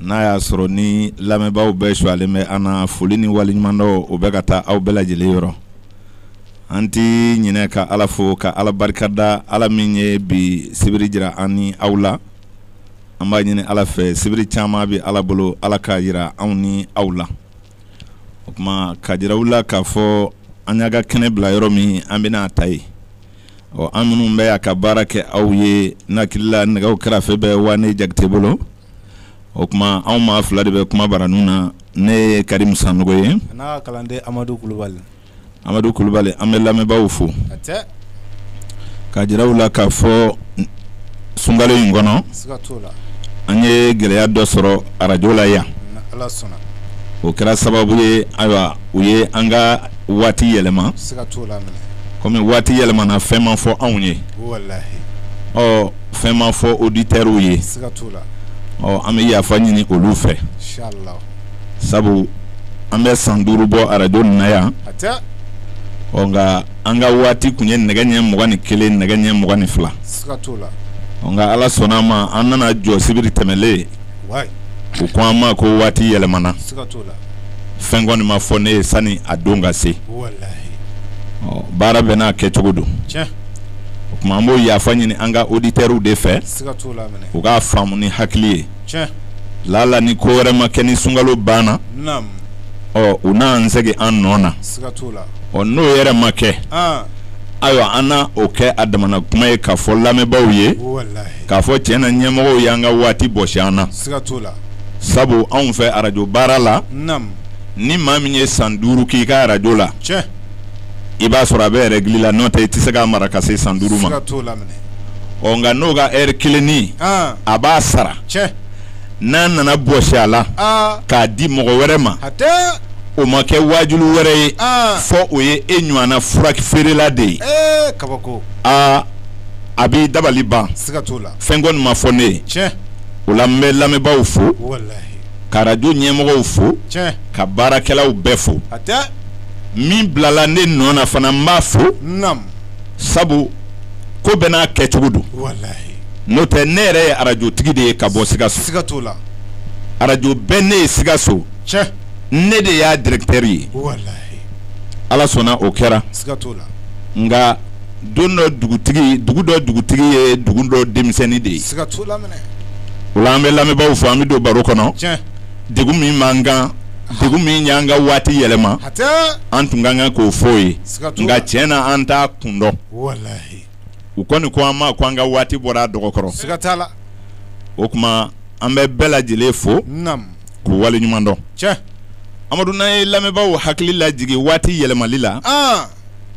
n'a y'a sɔrɔ ni lamɛnbaaw bɛɛ sumalen bɛ an na foli ni waleɲumandɔn o bɛ ka taa aw bɛɛ lajɛlen yɔrɔ an tɛ ɲinɛ ka ala fo ka ala barika da ala min ye bi sibiri jira an ni aw la an b'a ɲini ala fɛ sibiri caman bɛ ala bolo ala k'a jira anw ni aw la o kuma k'a jira aw la k'a fɔ an y'a ka kɛnɛ bila yɔrɔ min an bɛna a ta ye ɔ an minnu bɛ a ka baara kɛ aw ye n hakili la nɛgɛw karafe bɛ wane jakite bolo o kuma anw maa fila de bɛ kuma bara ninnu na ne ye karimu sanɔgɔ ye n'a ka kalanden amadu kulubali amadu kulubali an bɛ lamɛnbaaw fo k'a jira u la k'a fɔ sunkalo in kɔnɔ an ye gɛlɛya dɔ sɔrɔ arajo la yan o kɛra sababu ye ayiwa u ye an ka waati yɛlɛma kɔmi waati yɛlɛmana fɛn ma fɔ anw ye ɔ fɛn ma fɔ oditɛriw ye ɔ an bɛ yafa ɲini olu fɛ sabu an bɛ san duuru bɔ arajo na yan ɔ nka an ka waati kun ye nɛgɛ ɲɛ mugan ni kelen nɛgɛ ɲɛ mugan ni fila nka ala sɔnna a ma an nana jɔ sibiri tɛmɛlen u ko an ma ko waati yɛlɛmana fɛn kɔni ma fɔ ne ye sani a don ka se baara bɛɛ n'a kɛcogo don o kuma an b'o yafa ɲini an ka oditɛriw de fɛ u k'a faamu ni hakili ye lala ni ko wɛrɛ ma kɛ ni sunkalo banna ɔ u n'an segin an nɔ na ɔ n'o yɛrɛ ma kɛ ayiwa an na o kɛ a damana kuma ye k'a fɔ lamɛnbaaw ye k'a fɔ tiɲɛ na ɲɛmɔgɔw y'an ka waati bɔsi an na sabu anw fɛ arajo baara la ni maa min ye san duuru k'i ka arajo la i b'a sɔrɔ a bɛ ɛrɛgili la n'o tɛ i tɛ se k'a mara ka se san duuru ma ɔ nka n'o ka ɛri kelennin a b'a sara n'a nana bɔsi a la k'a di mɔgɔ wɛrɛ ma o ma kɛ waajulu wɛrɛ ye fo o ye e ɲɔgɔnna furafeerela de ye a b'i dabali ban fɛn kɔni ma fɔ ne ye o la n bɛ lamɛnbaaw fo ka arajo ɲɛmɔgɔw fo ka baarakɛlaw bɛɛ fo min bilala ne nɔ na fana n b'a fo sabu ko bɛɛ n'a kɛcogo don n'o tɛ ne yɛrɛ ye arajotigi de ye ka bɔ sikaso arajo bɛ ne ye sikaso ne de y'a dirɛkitɛri ye ala sɔnna o kɛra nka don dɔ dugutigi dugu dɔ dugutigi ye dugu dɔ denmisɛnnin de ye o la an bɛ lamɛnbaaw fo an bɛ don baro kɔnɔ degun min b'an kan degun min y'an ka waati yɛlɛma an tun ka kan k'o fɔ u ye nka tiɲɛ na an t'a kun dɔn u kɔni ko an ma ko an ka waati bɔra a dɔgɔ kɔrɔ o tuma an bɛ bɛɛ lajɛlen fo k'u wale ɲuman dɔn amadu n'an ye lamɛnbaaw hakili lajigi waati yɛlɛmali la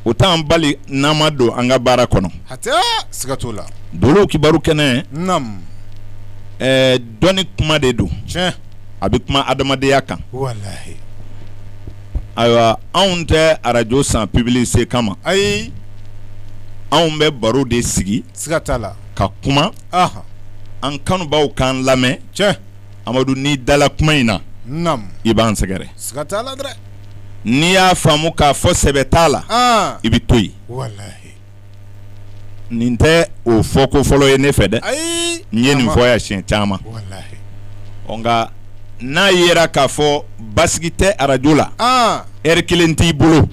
o t'an bali n'an ma don an ka baara kɔnɔ dolo kibaru kɛnɛ dɔnni kuma de don a bɛ kuma adamadenya kan ayiwa anw tɛ arajo san publicité kama ayi anw bɛ baro de sigi la ka kuma an kanubaw k'an lamɛn cɛ amadu n'i dala kuma in na i b'an sɛgɛrɛ n'i y'a faamu k'a fɔ sɛbɛ t'a la i bɛ to yen nin tɛ o fɔ ko fɔlɔ ye ne fɛ dɛ n ye nin fɔ yan siɲɛ caman nka n'a yera k'a fɔ basigi tɛ arajo la heure kelen t'i bolo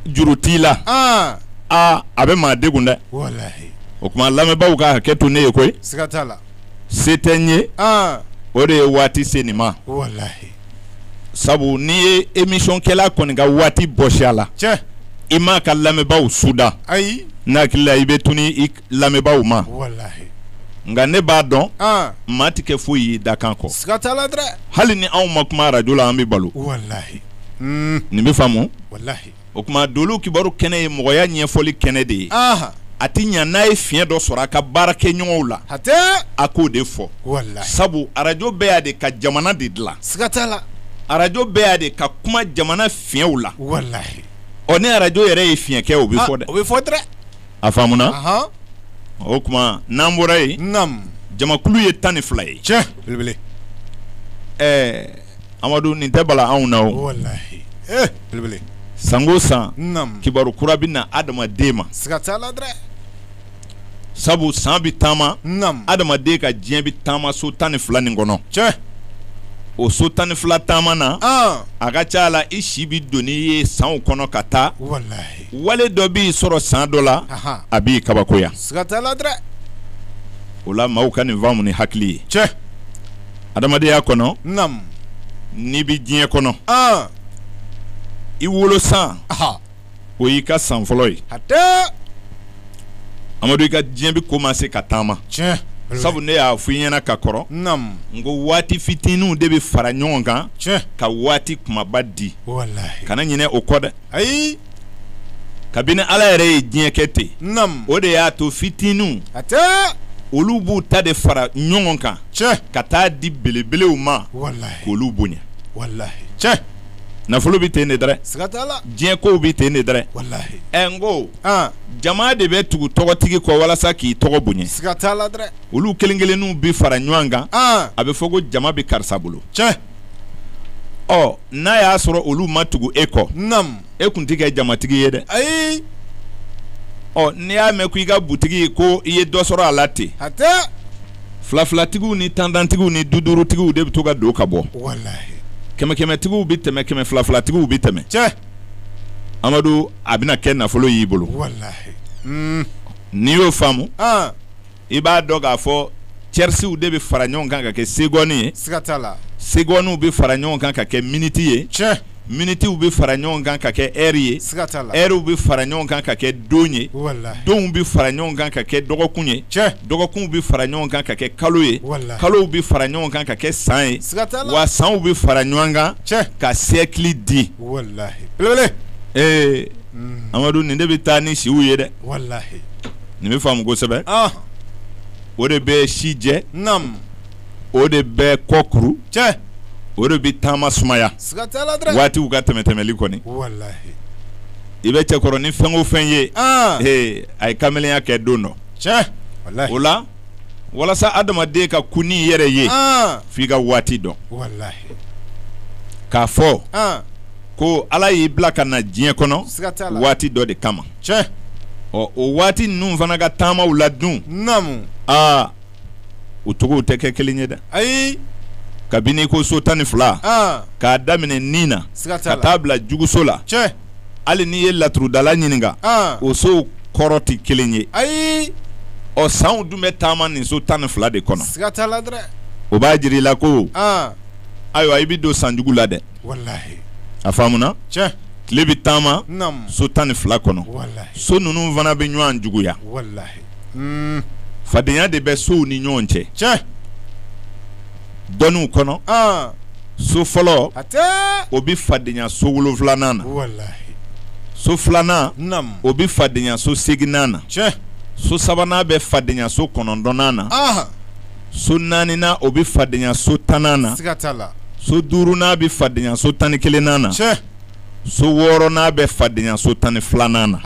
juru t'i la aa a bɛ maa degun dɛ, walahi, o tuma lamɛnbaaw ka hakɛ to ne ye koyi, siga t'a la, se tɛ n ye, an, o de ye waati se nin ma, walahi, sabu n'i ye émission kɛla kɔni ka waati bɔsi a la, cɛ, i m'a ka lamɛnbaaw suda, ayi, ne hakili la i bɛ tunun i lamɛnbaaw ma, walahi, nka ne b'a dɔn, an, maa tɛ kɛ foyi ye i dakan kɔ, siga t'a la dɛrɛ, hali ni anw ma kuma arajo la an bɛ balo, walahi, nin bɛ faamu, walahi o tuma dolo kibaru kɛnɛ ye mɔgɔya ɲɛfɔli kɛnɛ de ye a tɛ ɲa n'a ye fiɲɛ dɔ sɔrɔ a ka baarakɛɲɔgɔnw la a k'o de fɔ sabu arajo bɛ yan de ka jamana de dilan siga t'a la arajo bɛ yan de ka kuma jamana fiɲɛw la ɔ ni arajo yɛrɛ ye fiɲɛ kɛ o bɛ fɔ dɛ o bɛ fɔ a faamuna o tuma n'an bɔra yen jamakulu ye tan ni fila ye cɛ ɛɛ Amadu nin tɛ bala anw na san o san kibaru kura bɛ na adamaden ma sabu san bɛ taama adamaden ka diɲɛ bɛ taama so tan ni fila nin kɔnɔ cɛ o so tan ni fila taama na a ka ca la i si bɛ don i ye sanw kɔnɔ ka taa wale dɔ b'i sɔrɔ san dɔ la a b'i kabakoya o la maaw ka nin faamu ni hakili ye cɛ adamadenya kɔnɔ n'i bɛ diɲɛ kɔnɔ i wolo san o y'i ka san fɔlɔ ye amadu i ka diɲɛ bɛ commencer ka taama sabu ne y'a fɔ i ɲɛna ka kɔrɔ n ko waati fitininw de bɛ fara ɲɔgɔn kan ka waati kumaba di kana ɲinɛ o kɔ dɛ ayi kabini ala yɛrɛ ye diɲɛ kɛ ten nam o de y'a to fitininw hatɛ olu b'u ta de fara ɲɔgɔn kan tiɲɛ ka taa di belebelew ma walahi k'olu bonya walahi tiɲɛ nafolo bɛ ten de dɛrɛ siga t'a la diɲɛ kow bɛ ten de dɛrɛ walahi ɛ n ko an jama de bɛ tugu tɔgɔtigi kɔ walasa k'i tɔgɔ bonya siga t'a la dɛ olu kelen kelenninw bɛ fara ɲɔgɔn kan an a bɛ fɔ ko jama bɛ karisa bolo tiɲɛ ɔ n'a y'a sɔrɔ olu ma tugu e kɔ nam e kun tɛ kɛ jamatigi ye dɛ ayi ɔ n'i y'a mɛn ko i ka butigi ko i ye dɔ sɔrɔ a la ten hatɛ filafilatigiw ni tantantigiw ni dudurutigiw de bɛ to ka don ka bɔ walahi kɛmɛkɛmɛtigiw bɛ tɛmɛ kɛmɛ filafilatigiw bɛ tɛmɛ tiɲɛ amadu a bɛna kɛ nafolo y'i bolo walahi n'i y'o faamu an i b'a dɔn k'a fɔ cɛrisiw de bɛ fara ɲɔgɔn kan ka kɛ segɔni ye siga t'a la segɔniw bɛ fara ɲɔgɔn kan ka kɛ miniti ye tiɲɛ minitiw bɛ fara ɲɔgɔn kan ka kɛ ɛri ye siga t'a la ɛriw bɛ fara ɲɔgɔn kan ka kɛ don ye donw bɛ fara ɲɔgɔn kan ka kɛ dɔgɔkun ye tiɲɛ dɔgɔkunw bɛ fara ɲɔgɔn kan ka kɛ kalo ye kalow bɛ fara ɲɔgɔn kan ka kɛ san ye siga t'a la wa sanw bɛ fara ɲɔgɔn kan tiɲɛ ka siyɛkili di ee amadu nin de bɛ taa ni siw ye dɛ nin bɛ faamu kosɛbɛ o de bɛ si jɛ o de bɛ kɔ kuru o de bɛ taama sumaya waatiw ka tɛmɛtɛmɛli kɔni i bɛ cɛkɔrɔnin fɛn o fɛn ye a ye kamelenya kɛ don dɔ o la walasa adamaden ka kun n'i yɛrɛ ye f'i ka waati dɔn k'a fɔ ko ala y'i bila ka na diɲɛ kɔnɔ waati dɔ de kama tiɲɛ ɔ o waati ninnu fana ka taamaw la dun naamu aa u cogow tɛ kɛ kelen ye dɛ ayi kabini ko so tan ni fila k'a daminɛ ni na ka taa bila juguso la tiɲɛ hali n'i ye laturudala ɲininka o sow kɔrɔ tɛ kelen ye ayi ɔ sanw dun bɛ taama nin so tan ni fila de kɔnɔ o b'a jira i la ko ayiwa i bɛ don sanjugu la dɛ a faamuna tile bɛ taama so tan ni fila kɔnɔ so ninnu fana bɛ ɲɔgɔn juguya fadenya de bɛ sow ni ɲɔgɔn cɛ dɔnniw kɔnɔ so fɔlɔ o bɛ fadenya so wolonfilanan na so filanan o bɛ fadenya so seginnan na so sabanan bɛ fadenya so kɔnɔntɔnnan na so naaninan o bɛ fadenya so tannan na so duurunan bɛ fadenya so tan ni kelennan na so wɔɔrɔnan bɛ fadenya so tan ni filanan na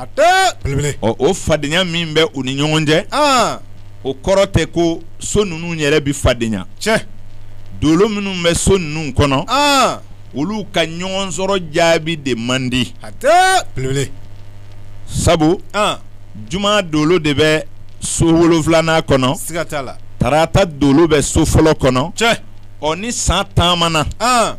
ɔ o fadenya min bɛ u ni ɲɔgɔn cɛ o kɔrɔ tɛ ko so ninnu yɛrɛ bɛ fadenya tiɲɛ dolo minnu bɛ so ninnu kɔnɔ olu ka ɲɔgɔn sɔrɔ jaabi de man di sabu juma dolo de bɛ so wolonfilanan kɔnɔ siga t'a la tarata dolo bɛ so fɔlɔ kɔnɔ tiɲɛ ɔ ni san taamana an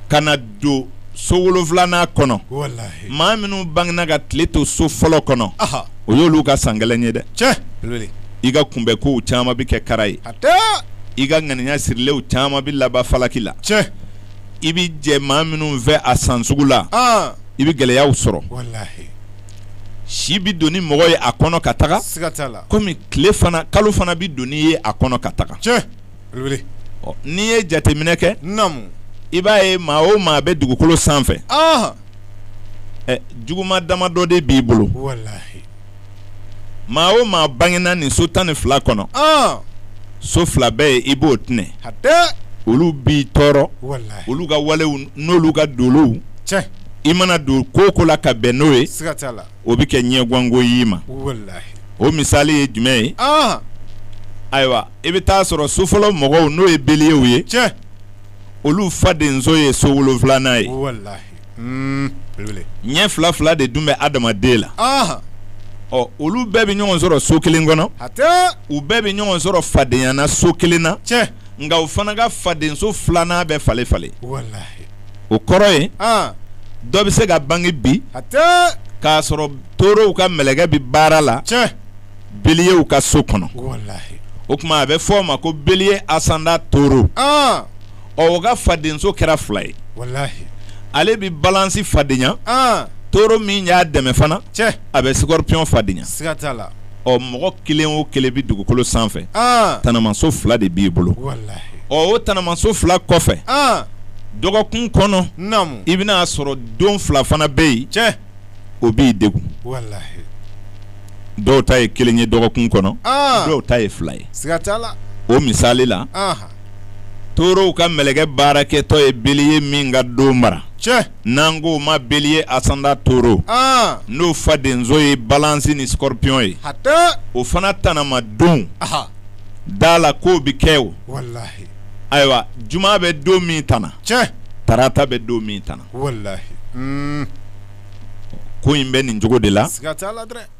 ka na don so wolonfilanan kɔnɔ walahi maa minnu bangena ka tile to so fɔlɔ kɔnɔ aha o y'olu ka san gɛlɛn ye dɛ tiɲɛ belebele i ka kunbɛnkow caman bɛ kɛ kara ye hatɛ i ka ŋaniya sirilenw caman bɛ laban falaki la tiɲɛ i bɛ jɛ maa minnu fɛ a san sugu la an i bɛ gɛlɛyaw sɔrɔ walahi si bɛ don ni mɔgɔ ye a kɔnɔ ka taga kɔmi tile fan kalo fana bɛ don n'i ye a kɔnɔ ka taga n'i ye jateminɛ kɛ i b'a ye maa o maa bɛ dugukolo sanfɛ juguma damadɔ de b'i bolo maa o maa bangena nin so tan ni fila kɔnɔ so fila bɛ yen i b'o tinɛ olu b'i tɔɔrɔ olu ka walew n'olu ka dolow i mana don ko o ko la ka bɛn n'o ye o bɛ kɛ ɲɛgwanko y'i ma o misali ye jumɛn ye ayiwa i bɛ taa sɔrɔ so fɔlɔ mɔgɔw n'o ye beliyew ye olu fadenso ye so wolonfilanan ye ɲɛ fila fila de dun bɛ adamaden la ɔ olu bɛɛ bɛ ɲɔgɔn sɔrɔ so kelen kɔnɔ u bɛɛ bɛ ɲɔgɔn sɔrɔ fadenyana so kelen na nka u fana ka fadenso filanan bɛ falen falen o kɔrɔ ye dɔ bɛ se ka bange bi k'a sɔrɔ torow ka mɛlɛkɛ bɛ baara la beliyew ka so kɔnɔ o kuma a bɛ fɔ o ma ko beliye asanda toro o ka fadenso kɛra fila ye ale bɛ balansi fadenya toro min y'a dɛmɛ fana a bɛ sikɔrɔpiyɔn fadenya ɔ mɔgɔ kelen o kelen bɛ dugukolo sanfɛ tanamaso fila de b'i bolo o tanamaso fila kɔfɛ dɔgɔkun kɔnɔ i bɛn'a sɔrɔ don fila fana bɛ yen tiɲɛ o b'i degun dɔw ta ye kelen ye dɔgɔkun kɔnɔ dɔw ta ye fila ye o misali la torow ka mɛlɛkɛ baarakɛtɔ ye beliye min ka don mara n'an k'o ma beliye asanda toro n'o fadenso ye balansi ni sikɔrɔpiyɔn ye o fana tanama don da la ko bɛ kɛ o ayiwa juma bɛ don min tana tarata bɛ don min tana ko in bɛ nin cogo de la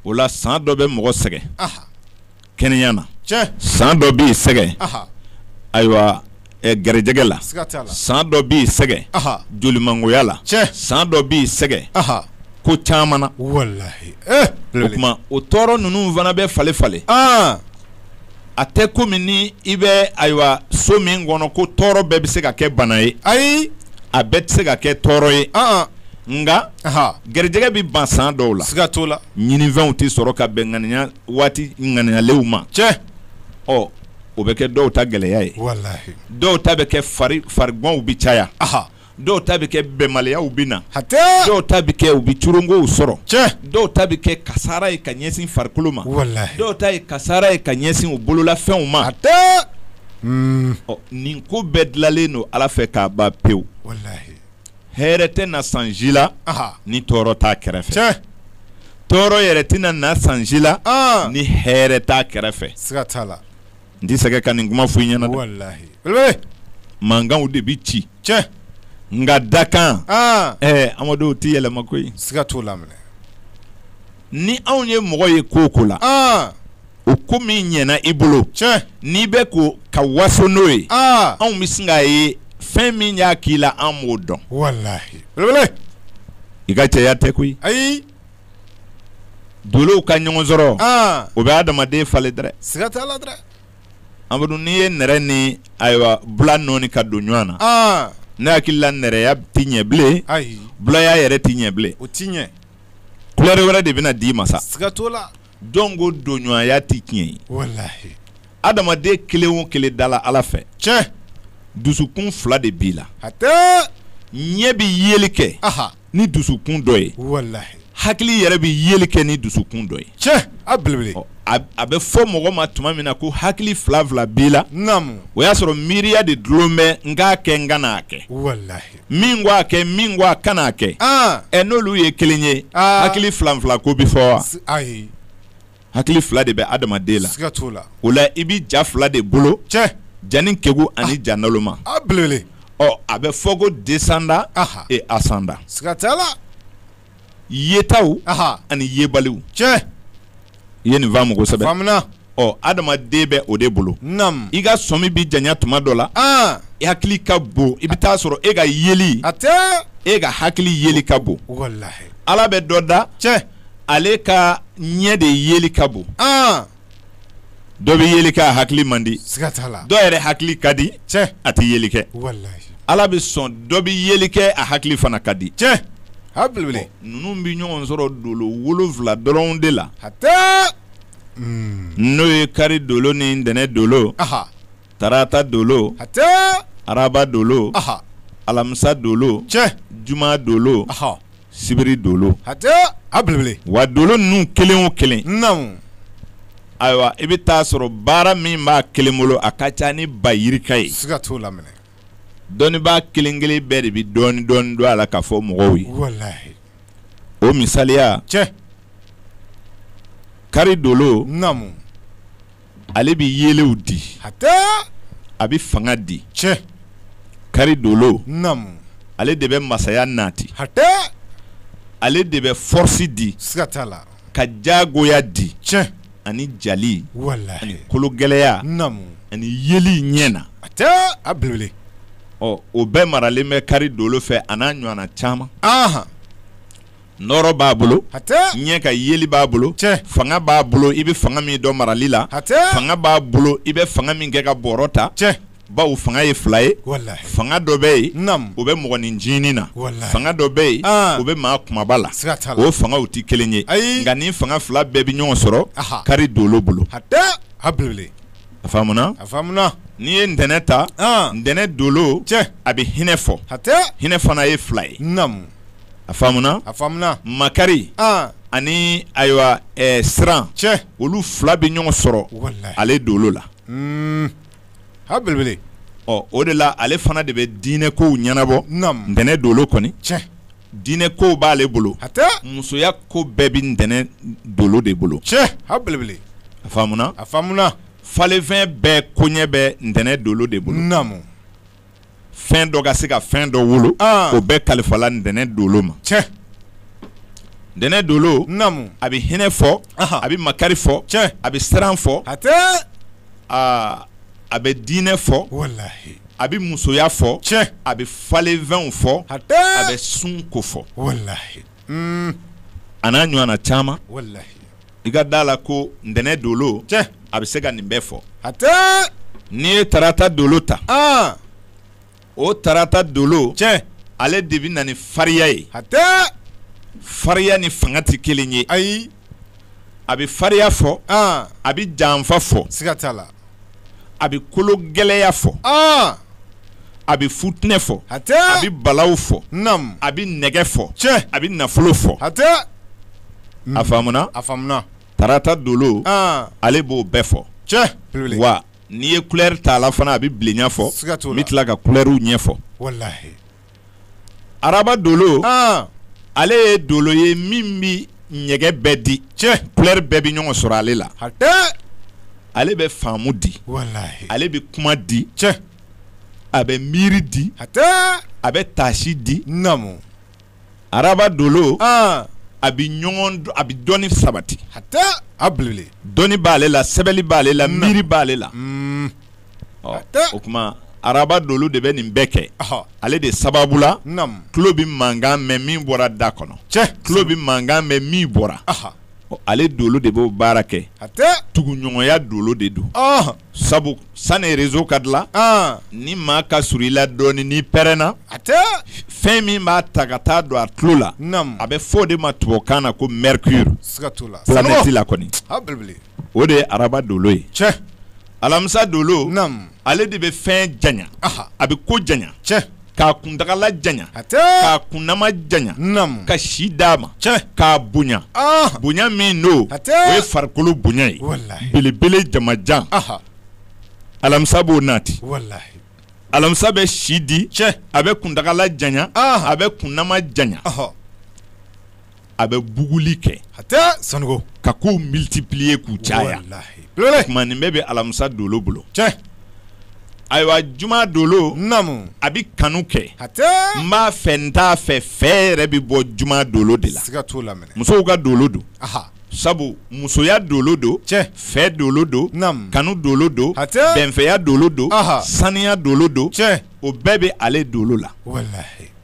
o la san dɔ bɛ mɔgɔ sɛgɛn kɛnɛya na san dɔ b'i sɛgɛn ayiwa garijɛgɛ la san dɔ b'i sɛgɛn jolimangoya la san dɔ b'i sɛgɛn ko caman na o tuma o tɔɔrɔ ninnu fana bɛ falen falen a tɛ komi ni i bɛ ayiwa so min kɔnɔ ko tɔɔrɔ bɛɛ bɛ se ka kɛ bana ye ayi a bɛɛ tɛ se ka kɛ tɔɔrɔ ye nka garijɛgɛ bɛ ban san dɔw la siga t'o la ɲininfɛnw tɛ sɔrɔ ka bɛn ŋaniya waati ŋaniyalenw ma tiɲɛ ɔ o bɛ kɛ dɔw ta gɛlɛya ye walahi dɔw ta bɛ kɛ fari fariganw bɛ caya aha dɔw ta bɛ kɛ bɛnbaliyaw bɛ na hatɛ dɔw ta bɛ kɛ u bɛ corongow sɔrɔ tiɲɛ dɔw ta bɛ kɛ kasara ye ka ɲɛsin farikolo ma walahi dɔw ta ye kasara ye ka ɲɛsin u bololafɛnw ma hatɛ ɔ nin ko bɛɛ dilanlen don Ala fɛ k'a ban pewu walahi hɛrɛ tɛ na san ji la ni tɔɔrɔ t'a kɛrɛfɛ tɔɔrɔ yɛrɛ tɛna na san ji la ni hɛrɛ t'a kɛrɛfɛ n tɛ sɛgɛ ka nin kuma f'i ɲɛna mankanw de bɛ ci nka dakan amadu tɛ yɛlɛma koyi siga t'o la ni anw ye mɔgɔ ye ko o ko la o ko min ɲɛna i bolo n'i bɛ ko ka waso n'o ye anw bɛ sin k'a ye fɛn min y'a k'i la an b'o dɔn i ka cɛya tɛ koyi ayi dolow ka ɲɔgɔn sɔrɔ o bɛ adamaden falen dɛrɛ amadu n'i ye nɛrɛ ni ayiwa bula nɔɔni ka don ɲɔgɔn na ne hakili la nɛrɛya tɛ ɲɛ bilen bulaya yɛrɛ tɛ ɲɛ bilen o tɛ ɲɛ kulɛri wɛrɛ de bɛna d'i ma sa Jɔn ko donɲɔgɔnya tɛ tiɲɛ ye? Walahi. Adamaden kelen o kelen dala Ala fɛ. Tiɲɛ! Dusukun fila de b'i la. Hatɛ! Ɲɛ bɛ yeli kɛ. Aha! Ni dusukun dɔ ye. Walahi. Hakili yɛrɛ bɛ yeli kɛ ni dusukun dɔ ye. Tiɲɛ! A belebele. Ɔ a b a bɛ fɔ mɔgɔ ma tuma min na ko hakili fila fila b'i la. Naamu. O y'a sɔrɔ miiriya de dulon bɛ n k'a kɛ n kan'a kɛ. Walahi. min ko a kɛ min ko a kana a kɛ ah. ɛ n'olu ye kelen ye ah. hakili fila fila ko bɛ fɔ wa ayi hakili fila de bɛ adamaden la siga t'o la o la i bɛ ja fila de bolo tiɲɛ jani kegu ani ah. ja naloma a belebele ɔ a bɛ fɔ ko descendant et ascendant siga t'a la yetaw ani yebaliw tiɲɛ i ye nin faamu kosɛbɛ ɔ adamaden bɛ o de bolo i ka sɔmi bɛ janya tuma dɔ la i hakili ka bon i bɛ t'a sɔrɔ e ka yeli a e ka hakili yeli ka bon ala bɛ dɔ da tiɲɛ ale ka ɲɛ de yeli ka bon dɔ bɛ yeli kɛ a hakili man di siga t'a la dɔ yɛrɛ hakili ka di cɛ a tɛ yeli kɛ walahi ala bɛ sɔn dɔ bɛ yeli kɛ a hakili fana ka di cɛ a belebele ninnu bɛ ɲɔgɔn sɔrɔ dolo wolonwula dɔrɔn de la hatɛ hmm. n'o ye kari dolo ni ntɛnɛn dolo tarata dolo hatɛ araba dolo alamisa dolo cɛ juma dolo sibiri dolo wa dolo ninnu kelen o kelen ayiwa i bɛ taa sɔrɔ baara min b'a kelen bolo a ka ca ni ba yirika ye dɔnnibaa kelen kelen bɛɛ de bɛ dɔɔni dɔɔni dɔn a la k'a fɔ mɔgɔw ye o misaliya cɛ kari dolo ale bɛ yelew di a bɛ fanga di cɛ kari dolo ale de bɛ masaya nati ale de bɛ fɔrisi di siga t'a la ka jagoya di cɛ ani jali ani kologɛlɛya ani yeli ɲɛ na hatɛ a belebele o bɛɛ maralen bɛ kari dolo fɛ a n'a ɲɔgɔnna caman nɔɔrɔ b'a bolo ɲɛ ka yeli b'a bolo fanga b'a bolo i bɛ fanga min don marali la fanga b'a bolo i bɛ fanga min kɛ ka bɔrɔ ta cɛ bawo fanga ye fila ye fanga dɔ bɛ yen o bɛ mɔgɔnin ncinin na fanga dɔ bɛ yen o bɛ maa kumaba la o fangaw tɛ kelen ye nka nin fanga fila bɛɛ bɛ ɲɔgɔn sɔrɔ kari dolo bolo n'i ye ntɛnɛn ta ntɛnɛn dolo a bɛ hinɛ fɔ hinɛ fana ye fila ye a faamuna a faamuna makari ani ayiwa siran cɛ olu fila bɛ ɲɔgɔn sɔrɔ ale dolo la a belebele o de la ale fana de bɛ diinɛ kow ɲɛnabɔ ntɛnɛn dolo kɔni cɛ diinɛ kow b'ale bolo a musoya ko bɛɛ bɛ ntɛnɛn dolo de bolo cɛ a belebele a faamuna falenfɛn bɛɛ koɲɛ bɛ ntɛnɛn dolo de bolo fɛn dɔ ka se ka fɛn dɔ wolo ah. o bɛɛ kalifala ntɛnɛn dolo ma ntɛnɛn dolo a bɛ hinɛ fɔ a bɛ makari fɔ a bɛ siran fɔ ah, a bɛ diinɛ fɔ a bɛ musoya fɔ a bɛ falenfɛnw fɔ a bɛ sun ko fɔ a n'a ɲɔgɔnna caman i ka da a la ko ntɛnɛn dolo a bɛ se ka nin bɛɛ fɔ n'i ye tarata dolo ta o tarata dolo ale de bɛ na ni fariya ye fariya ni fanga tɛ kelen ye ayi a bɛ fariya fɔ a bɛ janfa fɔ siga t'a la a bɛ kologɛlɛya fɔ a bɛ futinɛ fɔ hatɛ a bɛ balaw fɔ a bɛ nɛgɛ fɔ tiɲɛ a bɛ nafolo fɔ hatɛ a faamuna tarata dolo ale b'o bɛɛ fɔ tiɲɛ wa n'i ye kulɛri ta la fana a bɛ bilenya fɔ n bɛ tila ka kulɛriw ɲɛfɔ araba dolo ale ye dolo ye min bɛ ɲɛgɛn bɛɛ di tiɲɛ kulɛri bɛɛ bɛ ɲɔgɔn sɔrɔ ale la ale bɛ faamu di ale bɛ kuma di tiɲɛ a bɛ miiri di a bɛ taasi di araba dolo a bɛ a bɛ dɔnni sabati hatɛ dɔnni b'ale la sɛbɛnni b'ale la miiri b'ale la o tuma araba dolo de bɛ nin bɛɛ kɛ ale de sababu la tulo bɛ mankan mɛn min bɔra da kɔnɔ tulo bɛ mankan mɛn min bɔra ale dolo de b'o baara kɛ tuguɲɔgɔnya dolo de don sabu sani réseau ka dilan ni maa ka surun i la dɔɔnin n'i pɛrɛnna hatɛ fɛn min b'a ta ka taa don a tulo la a bɛ fɔ o de ma tubabukan na ko mercure planète la kɔni o de ye araba dolo ye alamisa dolo ale de bɛ fɛn janya a bɛ ko janya k'a kuntagala janya k'a kunnama janya ka si d'a ma k'a bonya bonya min n'o ye farikolo bonya ye belebele jamajan alamisa b'o nati alamisa bɛ si di a bɛ kuntagala janya a bɛ kunnama janya a bɛ buguli kɛ hatɛ sanuko ka kow multiplier k'u caya tuma nin bɛɛ bɛ alamisa dolo bolo tiɲɛ ayiwa juma dolo naamu a bɛ kanu kɛ hatɛ n b'a fɛ n t'a fɛ fɛ yɛrɛ bɛ bɔ juma dolo de la siga t'o la musow ka dolo don sabu musoya dolo don tiɲɛ fɛ dolo don kanu dolo don hatɛ bɛnfɛya dolo don saniya dolo don tiɲɛ o bɛɛ bɛ ale dolo la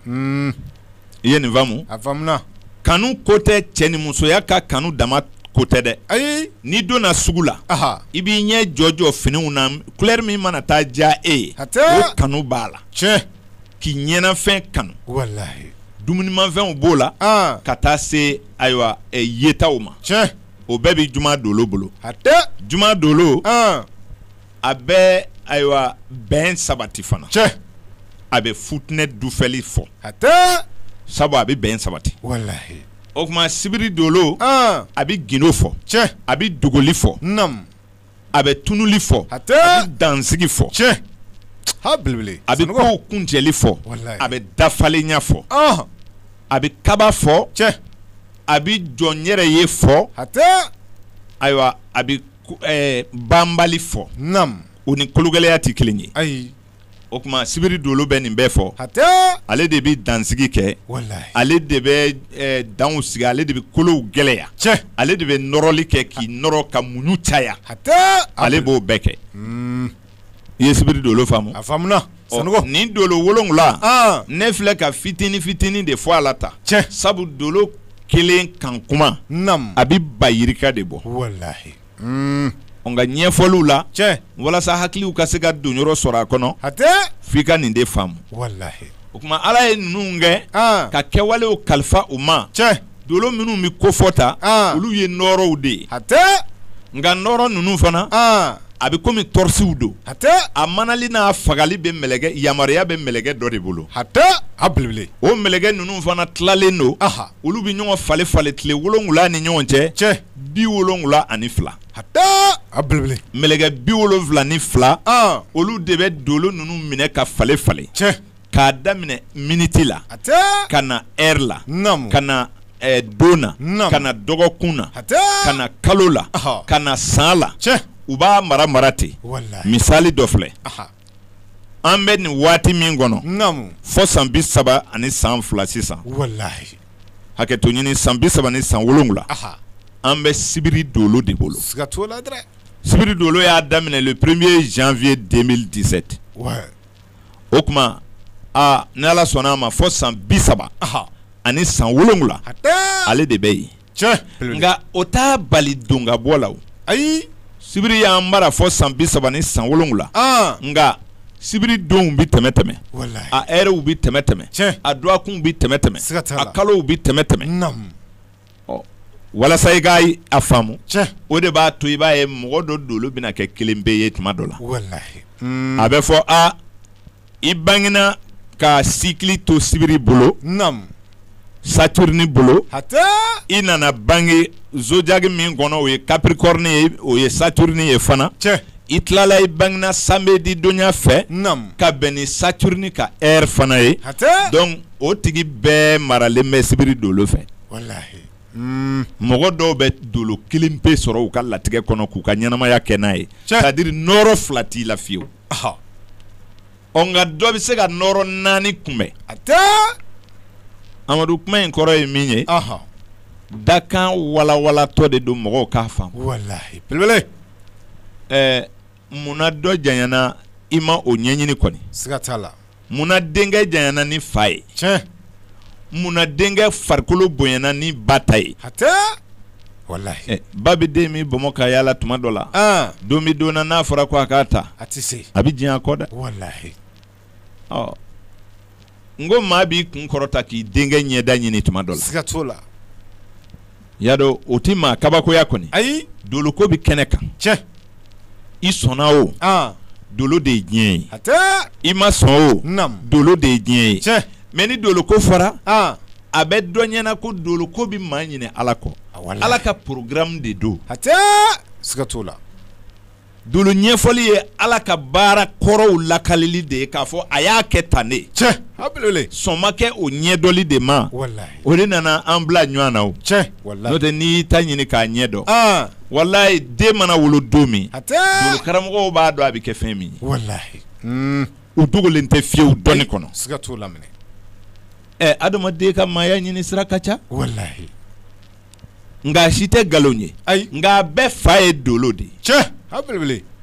i ye nin faamu a faamuna kanu ko tɛ cɛ ni musoya ka kanu dama ko tɛ dɛ ayi n'i donna sugu la i b'i ɲɛ jɔ jɔ finiw na kulɛri min mana taa diya e ye o kanu b'a la tiɲɛ k'i ɲɛnafɛn kanu dumunimafɛnw b'o la ka taa se ayiwa yetaw ma tiɲɛ o bɛɛ bɛ juma dolo bolo hatɛ juma dolo a bɛ ayiwa bɛn sabati fana tiɲɛ a bɛ futinɛ dufɛli fɔ hatɛ sabu a bɛ bɛn sabati o tuma sibiri dolo a bɛ gindo fɔ tiɲɛ a bɛ dogoli fɔ a bɛ tununli fɔ hatɛ a bɛ dansigi fɔ tiɲɛ a bɛ ko kuncɛli fɔ a bɛ dafalenya fɔ a bɛ kaba fɔ tiɲɛ a bɛ jɔ n yɛrɛ ye fɔ hatɛ ayiwa a banbali fɔ naamu o ni kologɛlɛya tɛ kelen ye ayi o tuma sibiri dolo bɛ nin bɛɛ fɔ hatɛ ale de bɛ dansigi kɛ ale de bɛ danw sigi ale de bɛ kolow gɛlɛya tiɲɛ ale de bɛ nɔrɔli kɛ k'i nɔrɔ ka muɲu caya hatɛ ale b'o bɛɛ kɛ I ye sibiri dolo faamu a faamuuna nin dolo wolonwula ne filɛ ka fitinin fitinin de fɔ a la ta tiɲɛ sabu dolo kelen kan kuma a bɛ ba yirika de bɔ walahi nka ɲɛfɔliw la tiɲɛ walasa hakiliw ka se ka donyɔrɔ sɔrɔ a kɔnɔ hatɛ f' i ka nin de faamu o tuma ala ye ninnu kɛ ka kɛwalew kalifa u ma tiɲɛ Dolo minnu bɛ kofɔ ta olu ye nɔɔrɔw de ye hatɛ nka nɔɔrɔ ninnu fana a bɛ kɔmi tɔrisiw don hatɛ a manali n'a fagali bɛ mɛlɛkɛ yamaruya bɛ mɛlɛkɛ dɔ de bolo hatɛ a belebele o mɛlɛkɛ ninnu fana tilalen don olu bɛ ɲɔgɔn falen falen tile wolonwula ni ɲɔgɔn cɛ tiɲɛ bi wolonwula ani fila hatɛ a belebele mɛlɛkɛ bi wolonwula ni fila olu de bɛ dolo ninnu minɛ ka falen falen tiɲɛ k'a daminɛ miniti la ka na ɛri la ka na don na ka na dɔgɔkun na ka na kalo la ka na san la u b'a mara mara ten misali dɔ filɛ an bɛ nin waati min kɔnɔ fɔ san bi saba ani san fila sisan walahi hakɛto ɲini san bi saba ni san wolonwula an bɛ sibiri dolo de bolo sibiri dolo y'a daminɛ le premier janvier deux mille dix-sept o tuma ni ala sɔnna a ma fɔ san bi saba ani san wolonwula ale de bɛ yen nka o t'a bali don ka bɔ la ayi sibiri y'an mara fɔ san bi saba ni san wolonwula nka sibiri donw bɛ tɛmɛ tɛmɛ a ɛrɛw bɛ tɛmɛ tɛmɛ a dɔgɔkunw bɛ tɛmɛ tɛmɛ a kalow bɛ tɛmɛ tɛmɛ walasa i ka a faamu tiɲɛ o de b'a to i b'a ye mɔgɔ dɔ dolo bɛna kɛ kelenpe ye tuma dɔ la walahi a bɛ fɔ a i bangena ka sikili to sibiri bolo saturuni bolo hatɛ i nana bange zodiaki min kɔnɔ o ye capricorne ye o ye saturuni ye fana tiɲɛ i tilala i bangena samedi donya fɛ ka bɛn ni saturuni ka heure fana ye tiɲɛ o tigi bɛɛ maralen bɛ sibiri dolo fɛ walahi mɔgɔ dɔw bɛ dolo kelen pe sɔrɔ u ka latigɛ kɔnɔ k'u ka ɲɛnamaya kɛ n'a ye c'est à dire nɔɔrɔ fila t'i la fiyewu ɔ nka dɔ bɛ se ka nɔɔrɔ naani kunbɛn hatɛ amadu kuma in kɔrɔ ye min ye dakan walawalatɔ de don mɔgɔw k'a faamu belebele munna dɔ janyana i ma o ɲɛɲini kɔni la munna denkɛ janyana ni fa ye tiɲɛ munna denkɛ farikolo bonyana ni ba ta ye hatɛ walahi eh, ba bɛ den min bɔnmɔ ka yaala tuma dɔ la ah. don bɛ don na n'a fɔra ko a k'a ta a tɛ se a bɛ diɲɛ a kɔ dɛ walahi ɔ n ko maa b'i kun kɔrɔta k'i denkɛ ɲɛda ɲini tuma dɔ la siga t'o la y'a dɔn o tɛ maa kabakoya kɔni ayi doloko bɛ kɛnɛ kan tiɲɛ i sɔnna o dolo de ye diɲɛ ye hatɛ i ma sɔn o dolo de ye diɲɛ ye tiɲɛ mɛ ni doloko fɔra a bɛ dɔ ɲɛna ko doloko bɛ maa ɲinɛ ala kɔ ala ka porogaramu de don hatɛ siga t'o la Dolo ɲɛfɔli ye ala ka baara kɔrɔw lakalili de ye k'a fɔ a y'a kɛ tan de tiɲɛ sɔn ma kɛ o ɲɛdɔli de ma o de nana an bila ɲɔgɔn na tiɲɛ n'o tɛ n'i y'i ta ɲini k'a ɲɛ dɔn walahi den mana wolo don min dolo karamɔgɔw b'a dɔn a bɛ kɛ fɛn min ye o dogolen tɛ fiyewu dɔnni kɔnɔ ɛ adamaden ka maaya ɲini sira ka ca nka a si tɛ nkalon ye ayi nka a bɛɛ fa ye dolo de ye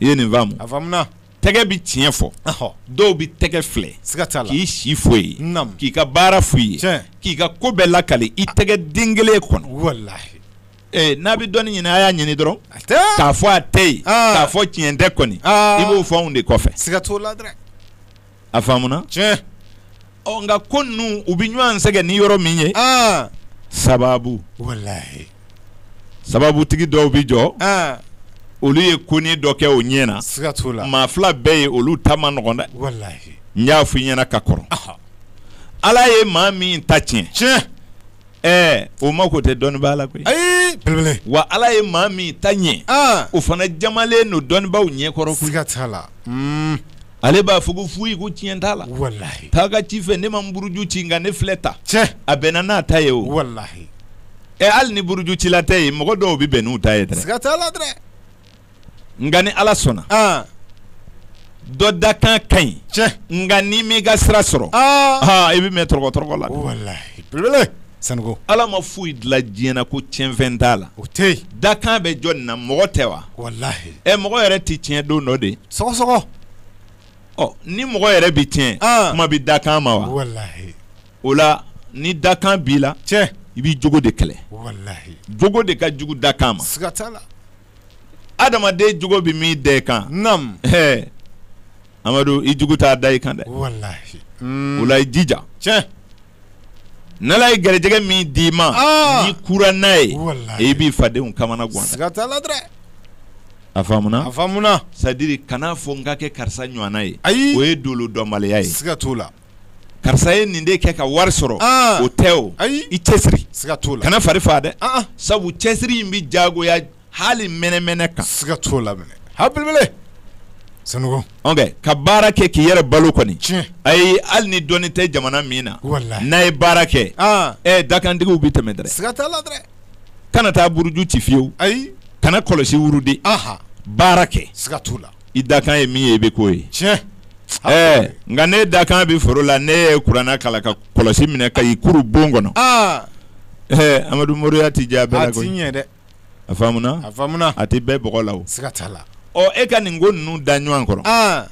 i ye nin faamu a faamuna tɛgɛ bɛ tiɲɛ fɔ dɔw bɛ tɛgɛ filɛ siga t'a la k'i si fɔ i ye k'i ka baara fɔ i ye k'i ka ko bɛɛ lakale i tɛgɛ den kelen kɔnɔ n'a bɛ dɔnni ɲini a y'a ɲini dɔrɔn k'a fɔ a tɛ yen k'a fɔ tiɲɛ tɛ kɔni i b'o fɔ anw de kɔfɛ siga t'o la a faamuna tiɲɛ nka ko ninnu u bɛ ɲɔgɔn sɛgɛn ni yɔrɔ min ye sababu walahi sababutigi dɔw bɛ jɔ olu ye ko ni dɔ kɛ o ɲɛ na siga t'o la maa fila bɛ yen olu ta man nɔgɔn dɛ n y'a fɔ i ɲɛna ka kɔrɔ ala ye maa min ta tiɲɛ tiɲɛ ɛɛ o mako tɛ dɔnnibaa la koyi ayi wa ala ye maa min ta ɲɛ o fana jamalen don dɔnnibaaw ɲɛkɔrɔ siga t'a la ale b'a fɔ ko foyi ko tiɲɛ t'a la walahi taa ka ci fɛ ne ma n buruju ci nka ne filɛ tan tiɲɛ a bɛnna n'a ta ye o walahi ɛ hali ni burujucila tɛ yen mɔgɔ dɔw bɛ bɛn n'u ta ye dɛ siga t'a la dɛ nka ni ala sɔnna ah. dɔ dakan ka ɲi tiɲɛ nka n'i m'i ka sira sɔrɔ ah. ah, i bɛ mɛɛn tɔrɔgɔ tɔrɔgɔ la walahi belebele sanogo ala ma foyi dilan diɲɛ na ko tiɲɛfɛn t'a la o tɛ yen dakan bɛ jɔni na mɔgɔ tɛ wa walahi ɛ mɔgɔ yɛrɛ tɛ tiɲɛ don dɔ de sɔgɔsɔgɔ ɔ ni mɔgɔ yɛrɛ bɛ tiɲɛ ah. kuma bɛ dakan ma wa walahi o la ni dakan b'i la tiɲɛ i b'i jogo de kɛlɛ walahi jogo de ka jugu dakan ma siga t'a la adamaden jogo bɛ min da i kan nam ɛɛ amadu i jugu t'a da i kan dɛ walahi o la i jija tiɲɛ n'Ala ye garijɛgɛ min d'i ma n'i kura n'a ye e b'i fadenw kamana gan a faamuna c'est-à-dire kana fɔ n ka kɛ karisa ɲɔgɔnna ye ayi o ye dolo dɔnbaliya ye siga t'o la karisa ye nin de kɛ ka wari sɔrɔ o tɛ o ayi i cɛsiri siga t'o la kana fari faa dɛ sabu cɛsiri in bɛ jagoya hali mɛnɛmɛnɛ kan siga t'o la minɛ ha belebele Sanogo ka baara kɛ k'i yɛrɛ balo kɔni tiɲɛ ayi hali ni dɔnni tɛ jamana min na walahi n'a ye baara kɛ aa ɛ dakantigiw bɛ tɛmɛ dɛrɛ siga t'a la dɛrɛ kana taa buruju ci fiyewu ayi kana kɔlɔsi wurudi aha baara kɛ siga t'o la i dakan ye min ye i bɛ k'o ye tiɲɛ ɛɛ nka ne dakan bɛ foro la ne ye kurana kalan ka kɔlɔsi minɛ ka i kuru bon kɔnɔ aa ɛɛ amadu moriya ti diya bɛɛ la koyi a ti ɲɛ dɛ a faamuna a faamuna a tɛ bɛɛ bɔgɔ la o siga t'a la ɔ e ka nin ko ninnu da ɲɔgɔn kɔrɔ aa